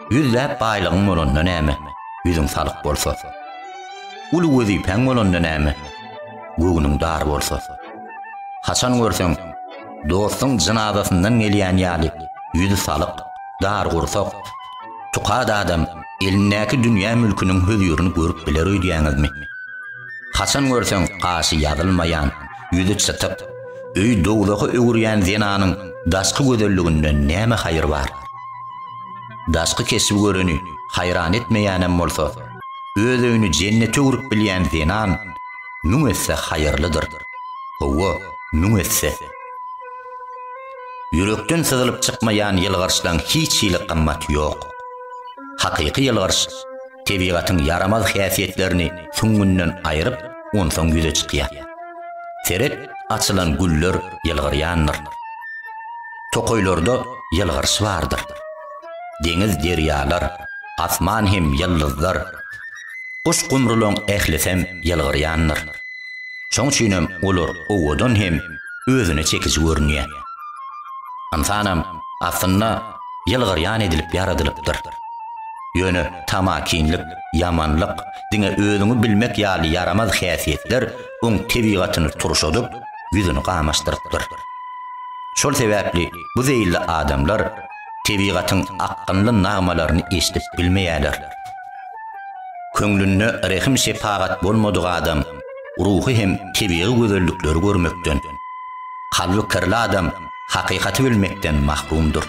Ýüzläp baýlygyň bolanda näme, ýüzüň salyk bolsa? Uly wezipäň bolanda näme, göwnüň dar bolsa? Haçan görseň, dostuň jynazasyndan gelýän ýaly, ýüzi salyk, dargursak, tukat adam elindäki dünýä-mülküniň hözürini görüp biler öýdýäňizmi? Haçan görseň, gaşy ýazylmaýan, ýüzi çytyk, öýi dowzaha öwürýän zenanyň daşky gözelliginden näme haýyr bar? Daşky keşbi göreni haýran etmeýänem bolsa, öz öýüni jennete öwrüp bilýän zenan müň esse haýyrlydyr. Hawa, müň esse. Ýürekden syzylyp çykmaýan ýylgyryşlaň hiç hili gymmaty ýok. Hakyky ýylgyryş tebigatyň ýaramaz häsiýetlerini süňňünden aýryp, onsoň ýüze çykýar. Seret, açylan güller ýylgyrýandyr. Tokaýlarda ýylgyryş bardyr. Deňiz, derýalar, asman hem ýyldyzlar, guş-gumrulaň ählisem ýylgyrýandyr. Şoň üçinem olar owadan hem özüne çekiji görünýär. Ynsanam, aslynda, ýylgyrýan edilip ýaradylypdyr. Ýöne tamakinlik, ýamanlyk, diňe özüňi bilmek ýaly ýaramaz häsiýetler oň tebigatyny turşadyp, ýüzüni gamaşdyrypdyr. Şol sebäpli bu zeýilli adamlar tebigatyň akgynly nagmalaryny eşidip bilmeýärler. Köňlünde rehim-şepagat bolmadyk adam ruhy hem tebigy gözellikleri görmekden, kalby kirli adam hakykaty bilmekden mahrumdyr.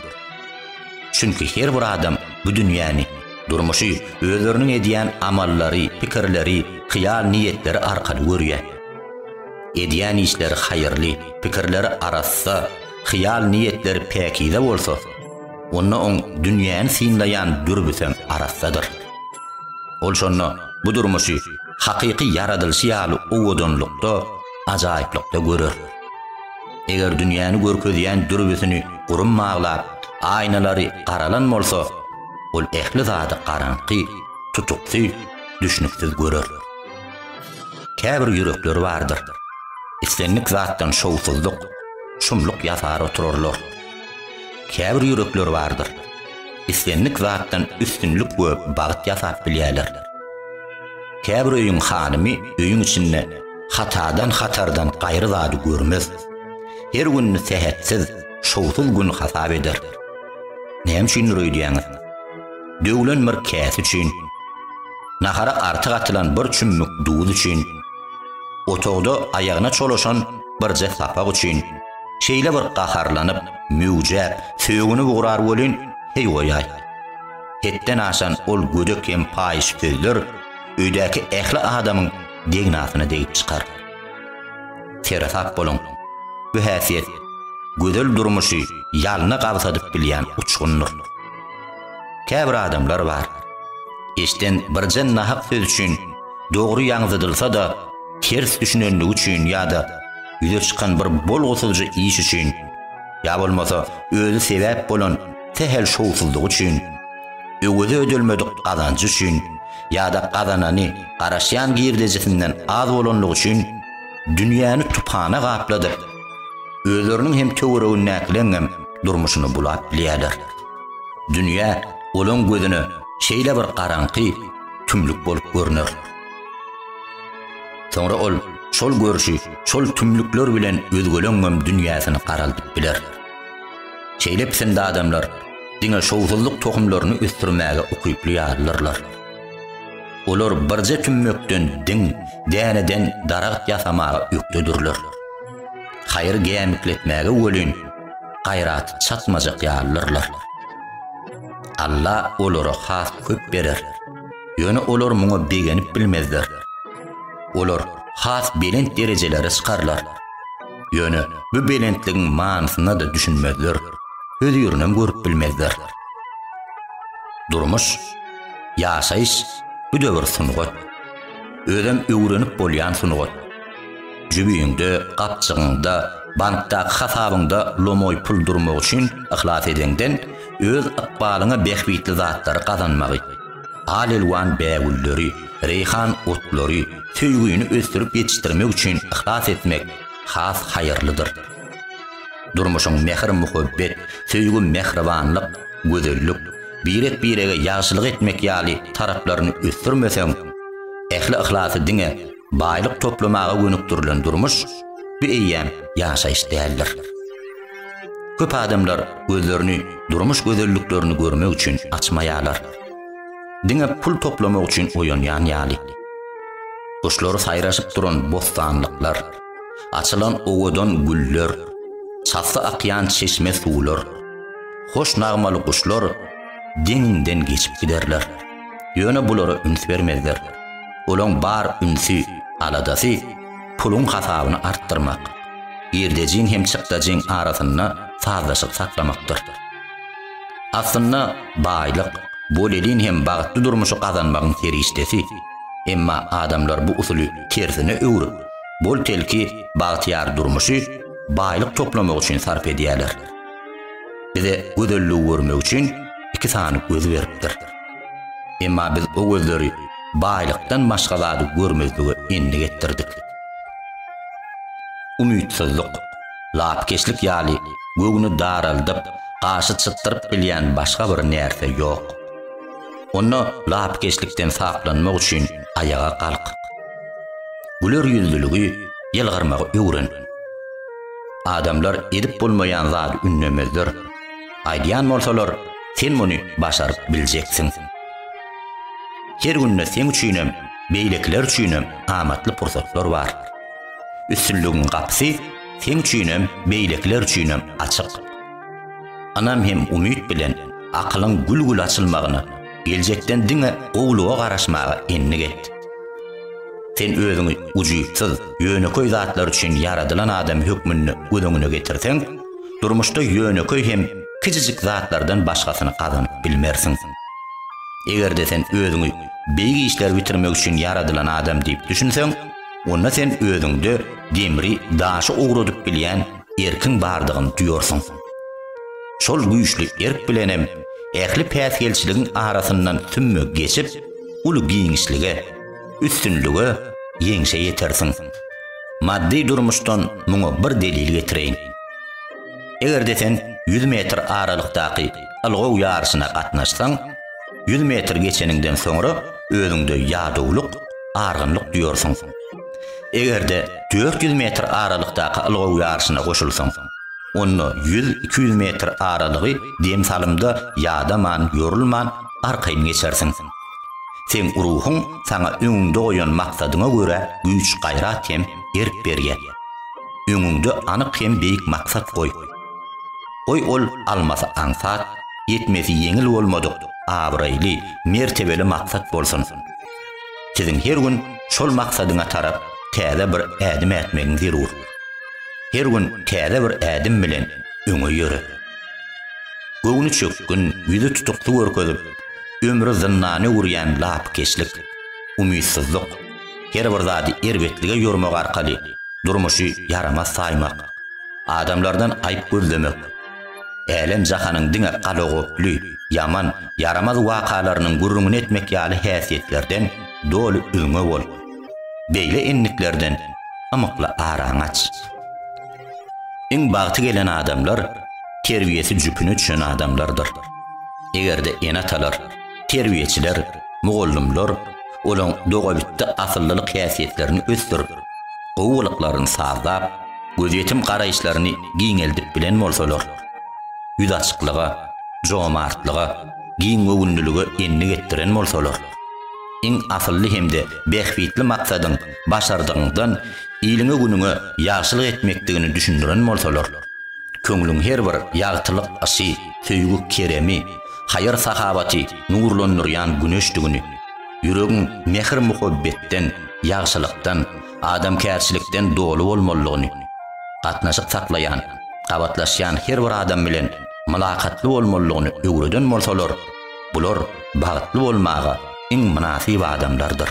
Çünki her bir adam bu dünýäni, durmuşy özleriniň edýän amallary, pikirleri, hyýal-niýetleri arkaly görýär. Edýän işleri haýyrly, pikirleri arassa, hyýal-niýetleri päkize bolsa, onda oň dünýäni synlaýan dürbüsem arassadyr. Ol şonda bu durmuşy hakyky ýaradylyşy ýaly owadanlykda, ajaýyplykda görer. Eger dünýäni görkezýän dürbüsini gurum baglap, aýnalary garalan bolsa, ol ähli zady garaňky, tutuksy, düşnüksiz görer. Käbir ýürekler bardyr, islendik zatdan şowsuzlyk, şumluk ýasar oturarlar. Käbir ýürekler bardyr, islendik zatdan üstünlik we bagt ýasap bilýärler. Käbir öýüň hanymy öýüň içinde Hatadan hatardan gaýry zady görmez. Her gününi sähetsiz, şowsuz gün hasap eder. Näme üçindir öýdýäňiz? Döwlen bir käse üçin. Nahara artyk atylan bir çümmük duz üçin. Otagda aýagyna çolaşan birje sapak üçin. Şeýle bir gaharlanyp, möwjäp, sögünip ugrar welin, heý goýaý. Hetden aşan ol gödek hem paýyş sözler öýdäki ähli adamyň degnasyna degip çykar. Serasap boluň, bu häsiýet gözel durmuşy ýalyna gabsadyp bilýän uçgundyr. Käbir adamlar bar, eşden birje nahak söz üçin, dogry ýaňzydylsa-da, ters düşünenligi üçin ýa-da ýüze çykan bir bolgusyzja iş üçin, ýa bolmasa özi sebäp bolan sähel şowsuzlygy üçin, Öwezi ödelmedik gazanjy üçin ýa-da gazanany garaşýan girdejisinden az bolanlygy üçin dünýäni tupana gapladyp, özleriniň hem töweregindäkileriňem durmuşyny bulap bilýärler. Dünýä olaň gözüne şeýle bir garaňky, tümlük bolup görner. Soňra ol şol görşi şol tümlükler bilen özgeleňňem dünýäsini garaldyp biler. Şeýle pisindi adamlar diňe şowsuzlyk tohumlaryny ösdürmäge ukyply ýalydyrlar. Olar birje tümmekden diň, däneden daragt ýasamaga ökdedirler. Haýyr gämikletmäge welin, gaýraty çatmajak ýalydyrlar. Alla olara has köp berer, ýöne olar muňa begenip bilmezler. Olar has belent derejelere çykarlar. Ýöne bu belentligiň manysyna-da düşünmezler, hözirinam görüp bilmezler. Durmuş, ýaşaýyş bu döwür sungat. Özem öwrenip bolýan sungat. Jübiňde, gapjygyňda, bankdaky hasabyňda lomoý pul durmagy üçin yhlas edeňden, öz ykbalyňa bähbitli zatlary gazanmagy, Al-elwan bägülleri, reýhan otlary, söýgini ösdürip ýetişdirmek üçin yhlas etmek has haýyrlydyr. Durmuşyň mähir-muhabbet, söýgi-mähribanlyk, gözellik, birek-birege ýagşylyk etmek ýaly taraplaryny ösdürmeseň, ähli yhlasy diňe baýlyk toplamaga gönükdirilen durmuş bu eýýäm ýaşaýyş däldir. Köp adamlar gözlerini durmuş gözelliklerini görmek üçin açmaýarlar. Diňe pul toplamak üçin oýanýan ýaly. Guşlary saýraşyp duran bossanlyklar, açylan owadan güller, çasy akýan çeşme suwlar, hoş nagmaly guşlar deňiňden geçip giderler. Ýöne bulara üns bermezler. Olaň bar ünsi, aladasy Puluň hasabyny artdyrmak, girdejiň hem çykdajyň arasynda sazlaşyk saklamakdyr. Aslynda baýlyk, bolelin hem bagtly durmuşy gazanmagyň serişdesi, emma adamlar bu usuly tersine öwrüp, bol-telki, bagtyýar durmuşy baýlyk toplamak üçin sarp edýärler. Bize gözelligi görmek üçin iki sany göz beripdir. Emma biz o gözleri baýlykdan başga zady görmezlige endik etdirdik. Umytsyzlyk, lapykeçlik ýaly göwni daraldyp, gaşy çytdyryp bilýän başga bir närse ýok. Onda lapykeçlikden saplanmak üçin aýaga galk. Güler ýüzlüligi ýylgyrmagy öwren. Adamlar edip bolmaýan zady ündemezler. Aýdýan bolsalar, sen muny başaryp biljeksiň. Her günde seň üçinem, beýlekiler üçinem amatly pursatlar bar. Üstünligiň gapysy seň üçinem, beýlekiler üçinem açyk. Ynam hem umyt bilen, akylyň gül-gül açylmagyna, Geljekden diňe gowulyga garaşmaga endik et. Sen özüňi ujypsyz, ýönekeý zatlar üçin ýaradylan adam hökmünde göz öňüne getirseň, durmuşda ýönekeý hem kiçijik zatlardan başgasyny gazanyp bilmersiň. Eger-de sen özüňi beýik işleri bitirmek üçin ýaradylan adam diýip düşünseň, onda sen özüňde demri daşa ugradyp bilýän erkiň bardygyny duýarsyň. şol güýçli erk bilenem ähli päsgelçiligiň arasyndan sümme geçip, uly giňişlige, üstünlige, ýeňşe ýetersiň. Maddy durmuşdan muňa bir delil getireýin. Eger-de sen ýüz metr aralykdaky ylgaw ýaryşyna gatnaşsaň, ýüz metr geçeniňden soňra özüňde ýadawlyk, argynlyk duýarsyň. Eger-de dört ýüz metr aralykdaky ylgaw ýaryşyna goşulsaň, Onda ýüz-iki ýüz metr aralygy dem salymda ýadaman, ýorulman arkaýyn geçersiň. Seň ruhuň saňa öňüňde goýan maksadyňa görä güýç-gaýrat hem erk berýär. Öňüňde anyk hem beýik maksat goý. Goý ol almasy aňsat, ýetmesi ýeňil bolmadyk abraýly, mertebeli maksat bolsun. Siziň her gün şol maksadyňa tarap täze bir ädim ätmegiň zerur. Her gün täze bir ädim bilen öňe ýöre. Göwni çökgün, ýüzi tutukly görkezip, ömri zyndana öwürýän lapykeçlik, umytsyzlyk, her bir zady erbetlige ýormak arkaly durmuşy ýaramaz saýmak, adamlardan aýyp gözlemek, älem-jahanyň diňe galagoply, ýaman, ýaramaz wakalarynyň gürrüňini etmek ýaly häsiýetlerden doly üzňe bolup, Beýle endiklerden ymykly araňy aç. Iň bagty gelen adamlar terbiýesi jüpüne düşen adamlardyr. Eger-de ene-atalar, terbiýeçiler, mugallymlar olaň dogabitdi asyllylyk häsiýetlerini ösdürip, gowy gylyklaryny sazlap, gözýetim garaýyşlaryny giňeldip bilen bolsalar, ýüz açyklyga, jomartlyga, giňgöwünlilige endik etdiren bolsalar, iň asylly hem-de bähbitli maksadyň başardygyňdan iliňe-günüňe ýagşylyk etmekdigini düşündiren bolsalar, köňlüň her bir ýagtylyk yşy, söýgi-keremi, haýyr-sahawaty nurlandyrýan güneşdigini, ýüregiň mähir-muhabbetden, ýagşylykdan, adamkärçilikden doly bolmalydygyny, gatnaşyk saklaýan, gabatlaşýan her bir adam bilen mylakatly bolmalydygyny öwreden bolsalar, Bular bagtly bolmaga iň mynasyp adamlardyr.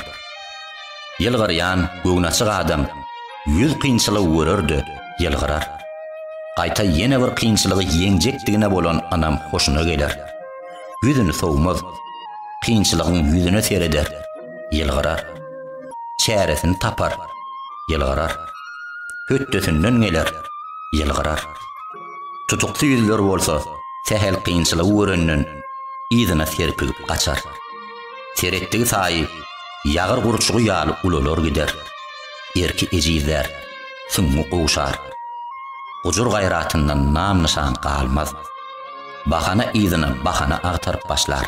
Ýylgyrýan, göwnaçyk adam ýüz kynçylygy görer-de, ýylgyrar. Gaýta ýene bir kynçylygy ýeňjekdigine bolan ynam hoşuna geler. Ýüzüni sowmaz. Kynçylygyň ýüzüne sereder, ýylgyrar. Çäresini tapar, ýylgyrar. Hötdesinden geler, ýylgyrar. Tutukly ýüzler bolsa sähel kynçylygy görenden yzyna serpigip gaçar. Seretdigi saýy ýagyr gurçugy ýaly ulalar gider. Erki ejizlär, süňňi gowşar. Gujur-gaýratyndan nam-nyşan galmaz. Bahana yzyna bahana agtaryp başlar.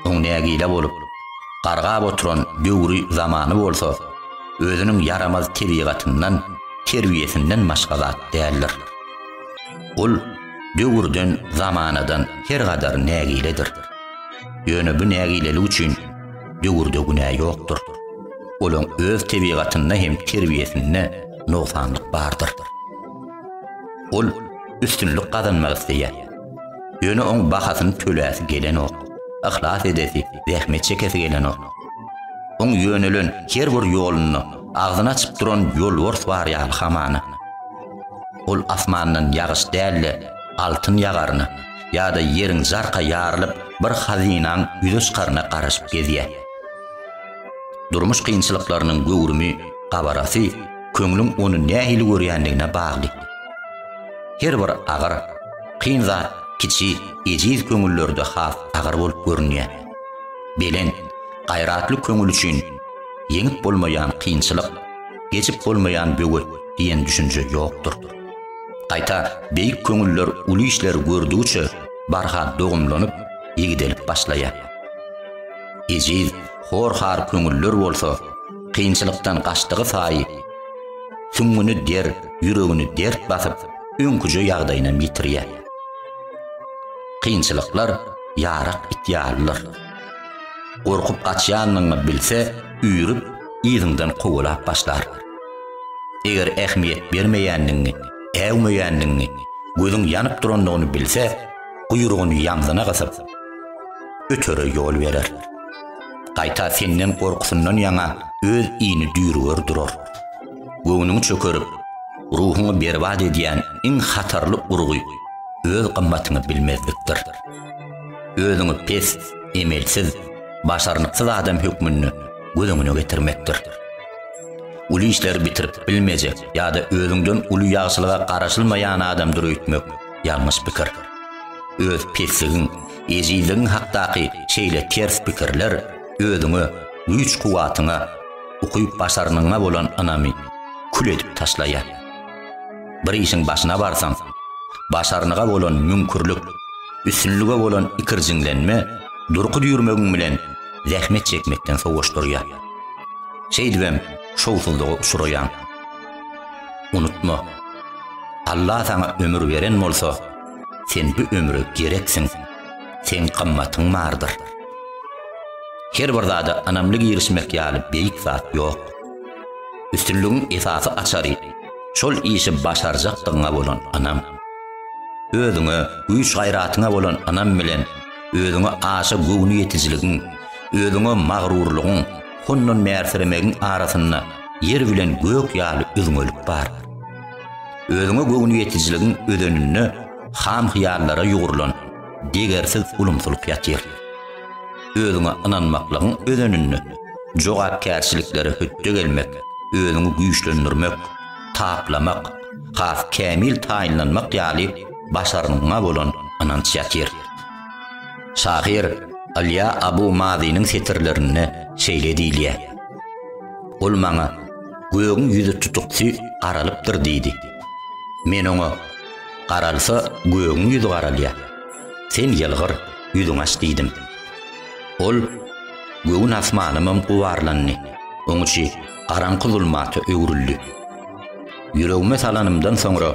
Oň nägile bolup, gargap oturan döwri-zamany bolsa özüniň ýaramaz tebigatyndan, terbiýesinden başga zat däldir. Ol döwürden, zamanadan her gadar nägiledir. Ýöne bu nägilelik üçin döwürde günä ýokdur. Olaň öz tebigatynda hem terbiýesinde nogsanlyk bardyr. Ol üstünlik gazanmak isleýär. Ýöne oň bahasyny töläsi gelenok. Yhlas edesi, zähmet çekesi gelenok. Oň ýönelen her bir ýolunda agzyny açyp duran ýolbars bar ýaly hamana. Ol asmandan ýagyş däl-de, altyn ýagaryna ýa-da ýeriň jarka ýarylyp bir hazynaň ýüze çykaryna garaşyp gezýär. Durmuş kynçylyklarynyň göwrümi, gabarasy köňlüň ony nähili görýändigine bagly. Her bir agyr, kyn zat kiçi, ejiz köňüllerde has agyr bolup görünýär. Belent, gaýratly köňül üçin ýeňip bolmaýan kynçylyk, geçip bolmaýan böwet diýen düşünje ýokdur. Gaýta, beýik köňüller uly işleri gördügiçe barha dogumlanyp, ýigidelip başlaýar. Ejiz, hor-har köňüller bolsa, kynçylykdan gaçdygy saýy, süňňüni der, ýüregini dert basyp, öňküje ýagdaýynam ýitirýär. Kynçylyklar ýarak it ýalydyr. Gorkup gaçýanyňy bilse, üýrüp, yzyňdan kowalap başlar. Eger ähmiýet bermeýändigiňi, äwmeýändigiňi, gözüň ýanyp durandygyny bilse, guýrugyny ýaňzyna gysyp, ötere ýol berer. Gaýta senden gorkusyndan ýaňa öz ini düýrüger durar. Göwnüňi çökerip, ruhuňy berbat edýän iň hatarly urgy öz gymmatyňy bilmezlikdir. Özüňi pes, emelsiz, başarnyksyz adam hökmünde göz öňüne getirmekdir. Uly işleri bitirip bilmejek ýa-da özüňden uly ýagşylyga garaşylmaýan adamdyr öýtmek ýalňyş pikir. Öz pesligiň, ejizligiň hakdaky şeýle ters pikirler özüňe, güýç-kuwwatyňa, ukyp-başarnygyňa bolan ynamy kül edip taşlaýar. Bir işiň başyna barsaň, başarnyga bolan müňkürlik, üstünlige bolan ikirjiňlenme durky düýrmegiň bilen zähmet çekmekden sowaşdyrýar. Şeýdibem şowsuzlyga uçraýaň. Unutma, Alla saňa ömür beren bolsa, sen bu ömre gereksiň, seň gymmatyň bardyr. Her bir zada ynamly girişmek ýaly beýik zat ýok. Üstünligiň esasy açary, şol işi başarjakdygyňa bolan ynam. Özüňe, güýç-gaýratyňa bolan ynam bilen özüňe aşa göwnüýetijiligiň, özüňe magrurlygyň, hondan märsiremegiň arasynda ýer bilen gök ýaly üzňelik bar. Özüňe göwnüýetijiligiň özeninde ham hyýallara ýugrulan degersiz ulumsylyk ýatyr. özüňe ynanmaklygyň özeninde jogapkärçiliklere hötde gelmek, özüňi güýçlendirmek, taplamak, has kämil taýynlanmak ýaly başarnygyňa bolan ynanç ýatyr. Şahyr Alýa Abu Mazynyň setirlerinde şeýle diýilýär, Ol maňa, Gögüň ýüzi tutuksy garalypdyr diýdi. Men oňa, Garalsa, gögüň ýüzi garalýar. Sen ýylgyr, ýüzüňi aç diýdim. Ol, Göwün asmanymam gubarlandy, oň içi garaňky zulmata öwrüldi. Ýüregime salanymdan soňra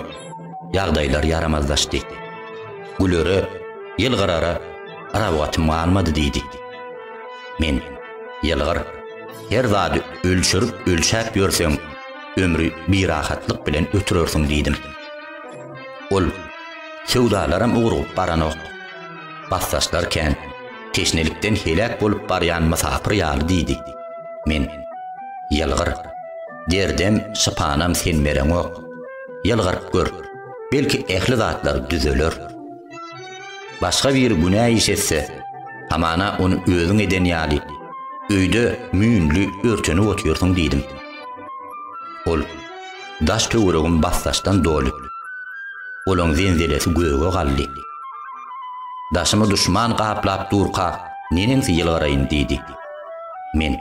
ýagdaýlar ýaramazlaşdy. Gülere, ýylgyrara rawgatym galmady diýdi. Men, Ýylgyr, her zady ölçerip-ölçäp ýörseň, ömri birahatlyk bilen ötürersiň diýdim. Ol, Söwdalaram ugrugyp baranok. Basdaşlar kän. Teşnelikden heläk bolup barýan mysapyr ýaly diýdi. Men, Ýylgyr. Derdem, şypanam sen bereňok. Ýylgyryp gör. Belki ähli zatlar düzeler. Başga biri günä iş etse, hamana ony özüň eden ýaly, öýde müýnli örtenip otyrsyň diýdim. Ol, Daş-töweregim basdaşdan doly. Olaň zenzelesi göge galdy. Daşymy duşman gaplap durka, neneňsi ýylgyraýyn diýdi. Men,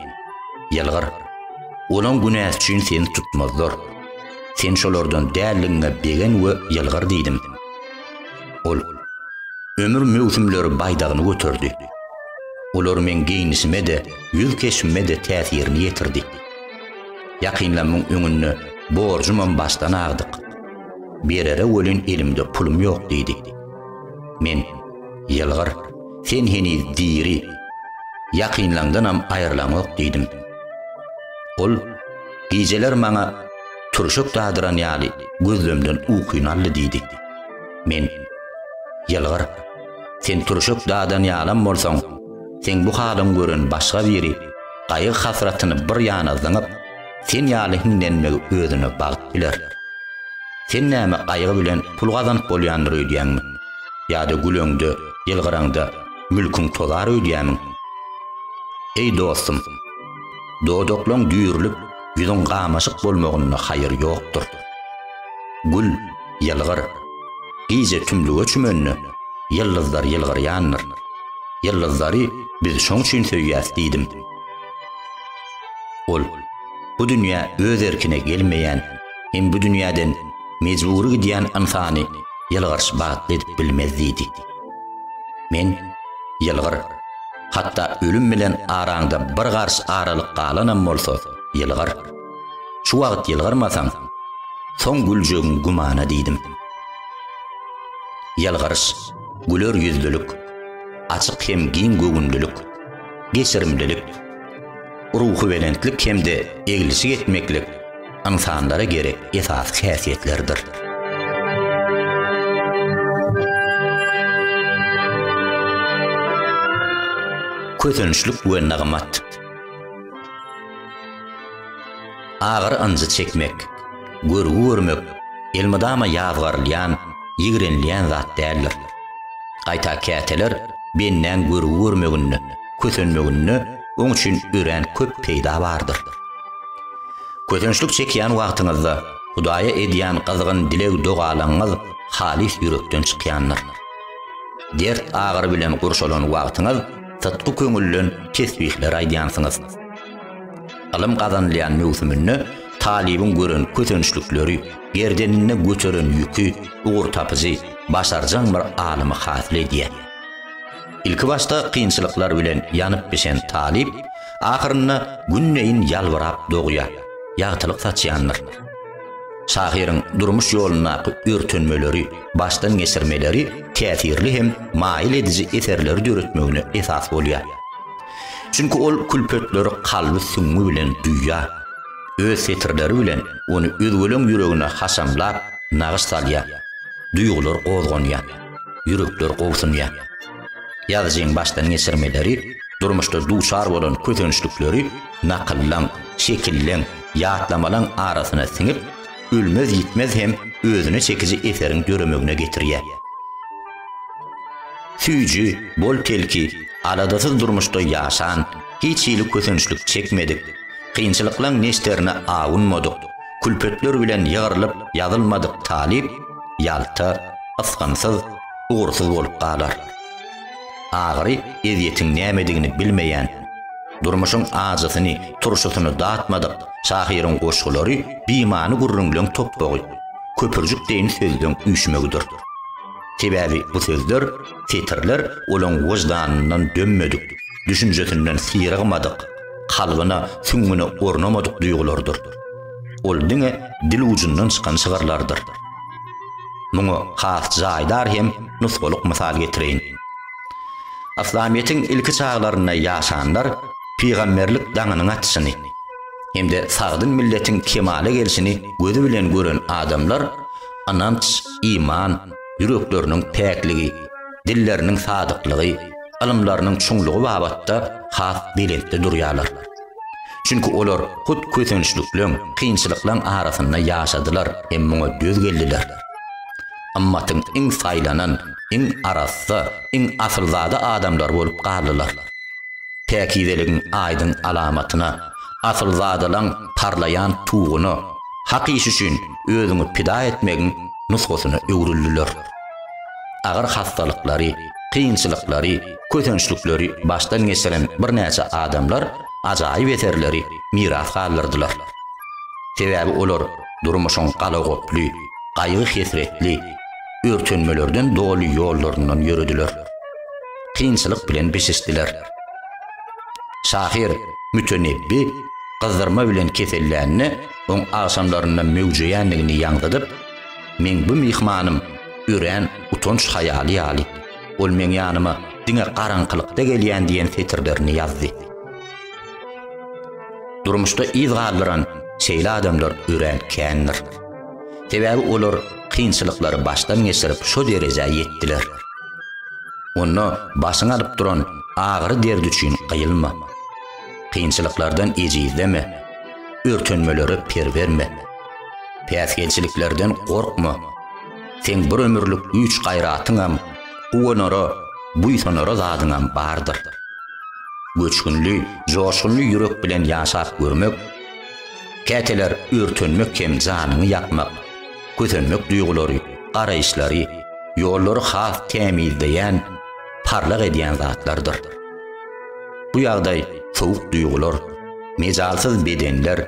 Ýylgyr. Olaň günäsi üçin seni tutmazlar. Sen şolardan däldigiňe begen we ýylgyr diýdim. Ol, Ömür möwsümleri baýdagyny göterdi. Olar meň geýnişime-de, ýüz keşbime-de täsirini ýetirdi. Ýakynlarymyň öňünde borjumam başdan agdyk. Berere welin elimde pulum ýok diýdi. Men, Ýylgyr, sen heniz diri, ýakynlaňdanam aýrylaňok diýdim. Ol gijeler maňa türşek dadyran ýaly gözlemden ukyny aldy diýdi. Men, Ýylgyr, sen türşek dadan ýalam bolsaň, seň bu halyň gören başga biri Gaýgy-hasratyny bir ýana zyňyp, sen ýaly hiňlenmegi özüne bagt biler. Sen näme gaýgy bilen pul gazanyp bolýandyr öýdýäňmi? Ýa-da güleňde, ýylgyraňda mülküň tozar öýdýämiň? Eý dostum, dodaklaň düýrülip, ýüzüň gamaşyk bolmagynda haýyr ýokdur. Gül, ýylgyr. Gije tümlüge çümende, ýyldyzlar ýylgyrýandyr. Ýyldyzlary biz şoň üçin söýýäs diýdim. Ol, Bu dünýä öz erkine gelmeýän hem bu dünýäden mejbury gidýän ynsany ýylgyrş bagtly edip bilmez diýdi. Men, Ýylgyr, hatda ölüm bilen araňda bir garş aralyk galanam bolsa, ýylgyr. Şu wagt ýylgyrmasaň, soň güljegiň gümana diýdim. Ýylgyryş, güler ýüzlülik, açyk hem giň göwünlilik, geçirimlilik, ruhubelentlik hem-de eglişik etmeklik ynsanlara gerek esasy häsiýetlerdir. Kösençlik we nygmat. Agyr ynjy çekmek, görgi görmek elmydama ýazgarylýan, ýigrenilýän zat däldir. Gaýta käteler bendäň görgi görmeginde, kösenmeginde oň üçin örän köp peýda bardyr. Kösençlik çekýän wagtyňyzda Hudaýa edýän gyzgyn dileg-dogalaňyňyz halys ýürekden çykýandyr. Dert-agyry bilen gurşalan wagtyňyz sytgy köňülden tesbihler aýdýansyňyz. Ylym gazanylýan möwsüminde talybyň gören kösençlikleri, gerdeninde göteren ýüki ugurtapyjy, başarjaň bir alymy hasyl edýär. Ilkibaşda kynçylyklar bilen ýanyp-bişen talyp ahyrynda günleýin ýalbyrap dogýar, ýagtylyk saçýandyr. Şahyryň durmuş ýolundaky örtenmeleri, başdan geçirmeleri täsirli hem maýyl ediji eserleri döretmegine esas bolýar. Çünki ol külpetleri kalby süňňi bilen duýýar, öz setirleri bilen ony özgeleň ýüregine haşamlap nagyş salýar, duýgular gozganýar, ýürekler gobsunýar. Ýazyjyň başdan geçirmeleri, durmuşda duçar bolan kösençlikleri nakyllaň, şekilleň, ýatlamalaň arasyna siňip, ölmez-ýitmez hem özüne çekiji eseriň döremegine getirýär. Süýji, bol pelki, aladasyz durmuşda ýaşan, hiç hili kösençlik çekmedik, kynçylyklaň neşterine awunmadyk, külpetler bilen ýygrylyp ýazylmadyk talyp ýalta, ysgynsyz, ugursyz bolup galar. Agyry, ezýetiň nämedigini bilmeýän, durmuşyň ajysyny, turşusyny datmadyk şahyryň goşgulary bimany gürrüňleň topbagy, köpürjik deýin sözleň üýşmegidir. Sebäbi bu sözler, setirler olaň wyždanyndan dönmedik, düşünjesinden syrygmadyk, kalbyna, süňňüne ornamadyk duýgulardyr. Ol diňe dil ujundan çykan şygyrlardyr. Muňa has jaýdar hem nusgalyk mysal getireýin. Yslamyýetiň ilki çaglarynda ýaşanlar pygamberlik daňynyň atyşyny hem-de sagdyn milletiň kemala gelşini gözi bilen gören adamlar ynanç, iman, ýürekleriniň päkligi, dilleriniň sadyklygy, ylymlarynyň çuňlugy babatda has belentde durýarlar. Çünki olar hut kösençlikleň, kynçylyklaň arasynda ýaşadylar hem muňa döz geldiler. Ymmatyň iň saýlanan, iň arassa, iň asylzada adamlary bolup galdylar. Päkizeligiň aýdyň alamatyna, asylzadalaň parlaýan tuguny, hak iş üçin, özüňi pida etmegiň nusgasyna öwrüldiler. Agyr hassalyklary, kynçylyklary, kösençlikleri başdan geçiren birnäçe adamlar ajaýyp eserleri miras galdyrdylar. Sebäbi olar durmuşyň galagoply, gaýgy-hesretli, örtenmelerden doly ýollaryndan ýörediler. Kynçylyk bilen bişişdiler. Şahyr mütenebbi gyzdyrma bilen kesellände, oň agşamlarynda möwjeýändigini ýaňzydyp, Meň bu myhmanym örän utanç haýaly ýaly, ol meň ýanyma diňe garaňkylykda gelýän diýen setirlerini ýazdy. Durmuşda yz galdyran şeýle adamlar örän kändir. Sebäbi olar kynçylyklary başdan geçirip şo derejä ýetdiler. Onda başyňy alyp duran agyry derdi üçin gyýylma. Kynçylyklardan ejizdeme. örtenmelere per berme. Päsgelçiliklerden gorkma. Seň bir ömürlik güýç-gaýratyňam, guwanara, buýsanara zadyňam bardyr. Göçgünli, joşgunly ýürek bilen ýaşap görmek, käteler örtenmek hem janyňy ýakmak, kösenmek duýgulary, garaýyşlary, ýollary has tämizleýän, parlak edýän zatlardyr. Bu ýagdaý sowuk duýgular, mejalsyz bedenler,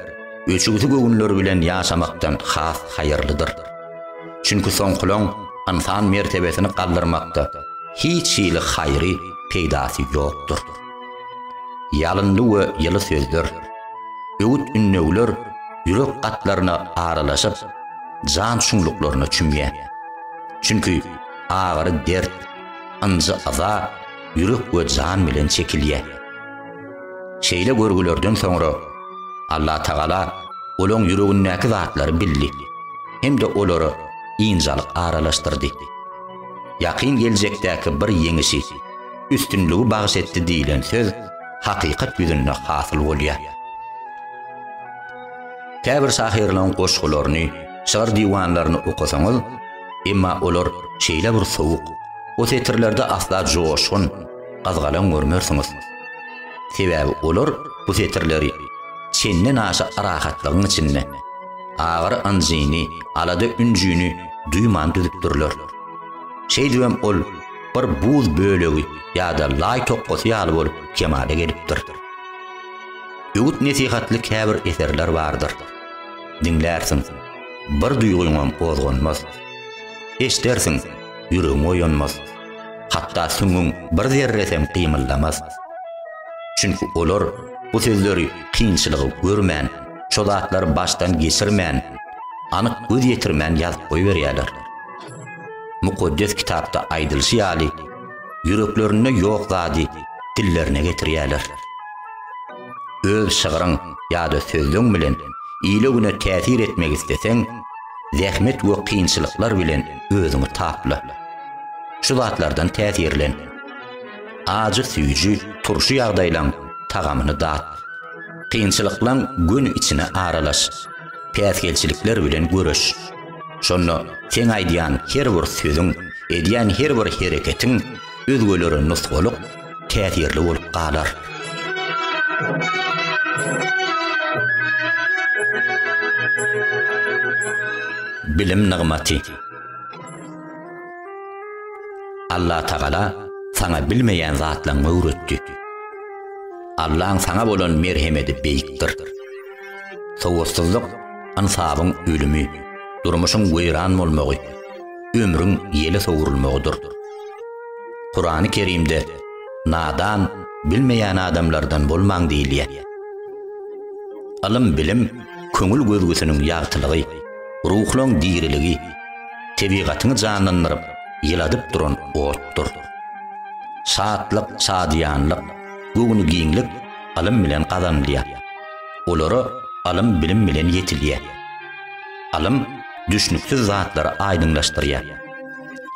öçügsi göwünler bilen ýaşamakdan has haýyrlydyr. Çünki soňkulaň ynsan mertebesini galdyrmakda hiç hili haýry, peýdasy ýokdur. Ýalynly we ýyly sözler, öwüt-ündewler ýürek gatlaryna aralaşyp, jan çuňluklaryna çümýär. Çünki agyry-dert, ynjy-yza, ýürek we jan bilen çekilýär. Şeýle görgülerden soňra Allah Tagala olaň ýüregindäki zatlary bildi hem-de olara ynjalyk aralaşdyrdy. Ýakyn geljekdäki bir ýeňişi, üstünligi bagyş etdi diýlen söz hakykat ýüzünde hasyl bolýar. Käbir şahyrlaryň goşgularyny, şygyr diwanlaryny okasaňyz, Emma olar şeýle bir sowuk, o setirlerde asla joşgun, gazgalaň görmersiňiz. Sebäbi olar bu setirleri çenden aşa rahatlygyň içinde, agyry ynjyny, alada ünjüni duýman düzüpdirler. Şeýdibem ol bir buz bölegi ýa-da laý tokgasy ýaly bolup kemala gelipdir. Öwüt-nesihatly käbir eserler bardyr. Diňlärsiň. Bir duýgyňam gozganmaz. Eşdersiň, ýüregiň oýanmaz. Hatda süňňüň bir zerresem gymyldamaz. Çünki olar bu sözleri kynçylygy görmän, şo zatlary başdan geçirmän, anyk göz ýetirmän ýazyp goýberýärler. Mukaddes Kitapda aýdylyşy ýaly, ýüreklerinde ýok zady dillerine getirýärler. Öz şygryň ýa-da sözleň bilen ile-güne täsir etmek isleseň, zähmet we kynçylyklar bilen özüňi tapla. Şu zatlardan täsirlen. Ajy, süýji, turşy ýagdaýlaň tagamyny dat. Kynçylyklaň göni içine aralaş. Päsgelçilikler bilen göreş. Şonda seň aýdýan her bir sözüň, edýän her bir hereketiň özgelere nusgalyk, täsirli bolup galar. Bilim nygmaty. Allah Tagala saňa bilmeýän zatlaryňy öwretdi. Allaň saňa bolan merhemeti beýikdir. Sowatsyzlyk, ynsabyň ölümi, durmuşyň weýran bolmagy, ömrüň ýele sowrulmagydyr. Kurany Kerimde nadan, bilmeýän adamlardan bolmaň diýilýär. Ylym-bilim köňül gözgüsiniň ýagtylygy, ruhlaň diriligi, tebigatyňy janlandyryp, ýyladyp duran otdur. Şatlyk, şadyýanlyk, göwnügiňlik ylym bilen gazanylýar. Olara ylym-bilim bilen ýetilýär. Alym düşnüksiz zatlary aýdyňlaşdyrýar.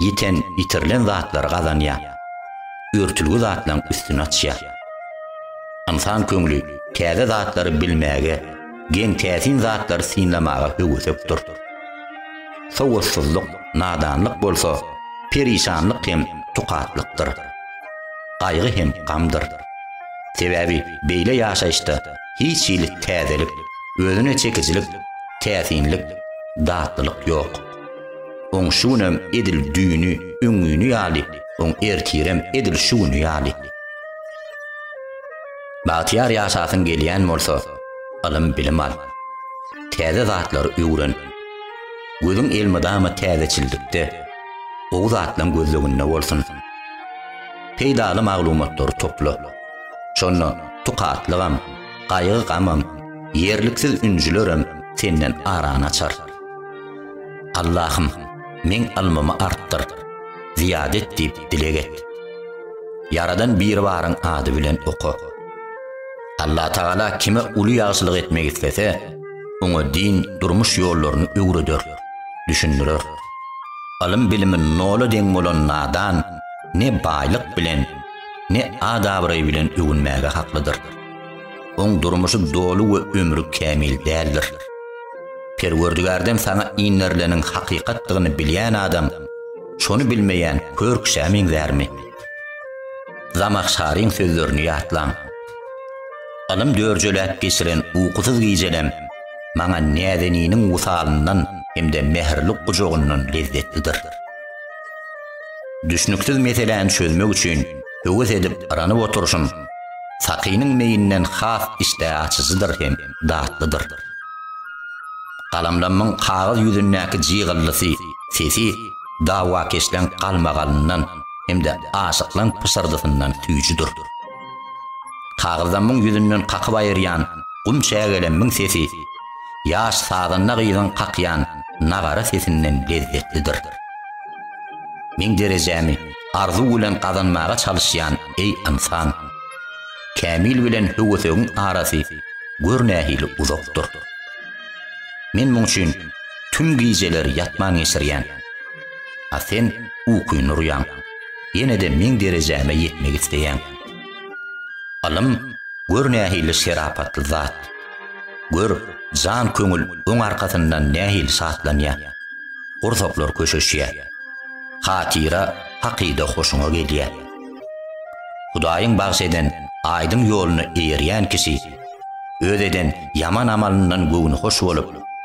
Ýiten, ýitirilen zatlary gazanýar. Örtülgi zatlaryň üstüni açýar. Ynsan köňli täze zatlary bilmäge, geň täsin zatlary synlamaga höwesokdur. Sowatsyzlyk, nadanlyk bolsa perişanlyk hem tukatlykdyr. Gaýgy hem gamdyr. Sebäbi beýle ýaşaýyşda Hiç hili täzelik, özüne çekijilik, täsinlik, datlylyk ýok. Oň şu günem edil düýni, öňňüni ýaly, oň ertirem edil şu güni ýaly. Bagtyýar ýaşasyň gelýän bolsa, ylym-bilim al. Täze zatlary öwren. Gözüň elmydama täzeçillikde, gowy zatlaň gözleginde bolsun. Peýdaly maglumatlary topla. Şonda tukatlygam, gaýgy-gamam, ýerliksiz ünjülerem Senden arany açar. Allahym, meň ylmymy artdyr, zyýada et diýip dileg et. Ýaradan Biribaryň ady bilen oka. Allatagala kime uly ýagşylyk etmek islese, oňa din, durmuş ýollaryny öwreder, düşündirer. Ylym-bilimi nola deň bolan nadan ne baýlyk bilen, ne ad-abraý bilen öwünmäge haklydyr. Oň durmuşy doly we ömri kämil däldir. Perwerdigärden saňa inderileniň hakykatdygyny bilýän adam şony bilmeýän kör kişä meňzärmi? Zamahşaryň sözlerini ýatlaň. Ylym dörjeläp geçiren ukusyz gijelem maňa Näzeniniň wysalyndan hem-de mähirli gujagyndan lezzetlidir. Düşnüksiz meseläni çözmek üçin höwes edip yranyp oturyşym Sakynyň meýinden has işdä açyjydyr hem datlydyr. Galamlamyň kagyz ýüzündäki jygyldysy, sesi dawakeşleň galmagalyndan hem-de aşyklaň pyşyrdysyndan süýjüdir. Kagyzlamyň ýüzünden kakyp aýyrýan gum çägelemmiň sesi ýaş sazanda gyzyň kakýan nagara sesinden lezzetlidir. Meň derejämi arzuw bilen gazanmaga çalyşýan eý ynsan! Kämil bilen höwesegiň arasy gör nähili uzakdyr. Men muň üçin tüm gijeleri ýatman geçirýän. A sen ukyny urýaň, ýene-de meň derejäme ýetmek isleýäň. Ylym gör nähili şerapatly zat! Gör, jan köňül öň arkasyndan nähili şatlanýar. Gursaklar köşeşýär. Hatyra, hakyda hoşuňa gelýär. Hudaýyň bagş eden aýdyň ýoluna eýerýän kişi, öz eden ýaman amalyndan göwnühoş bolup,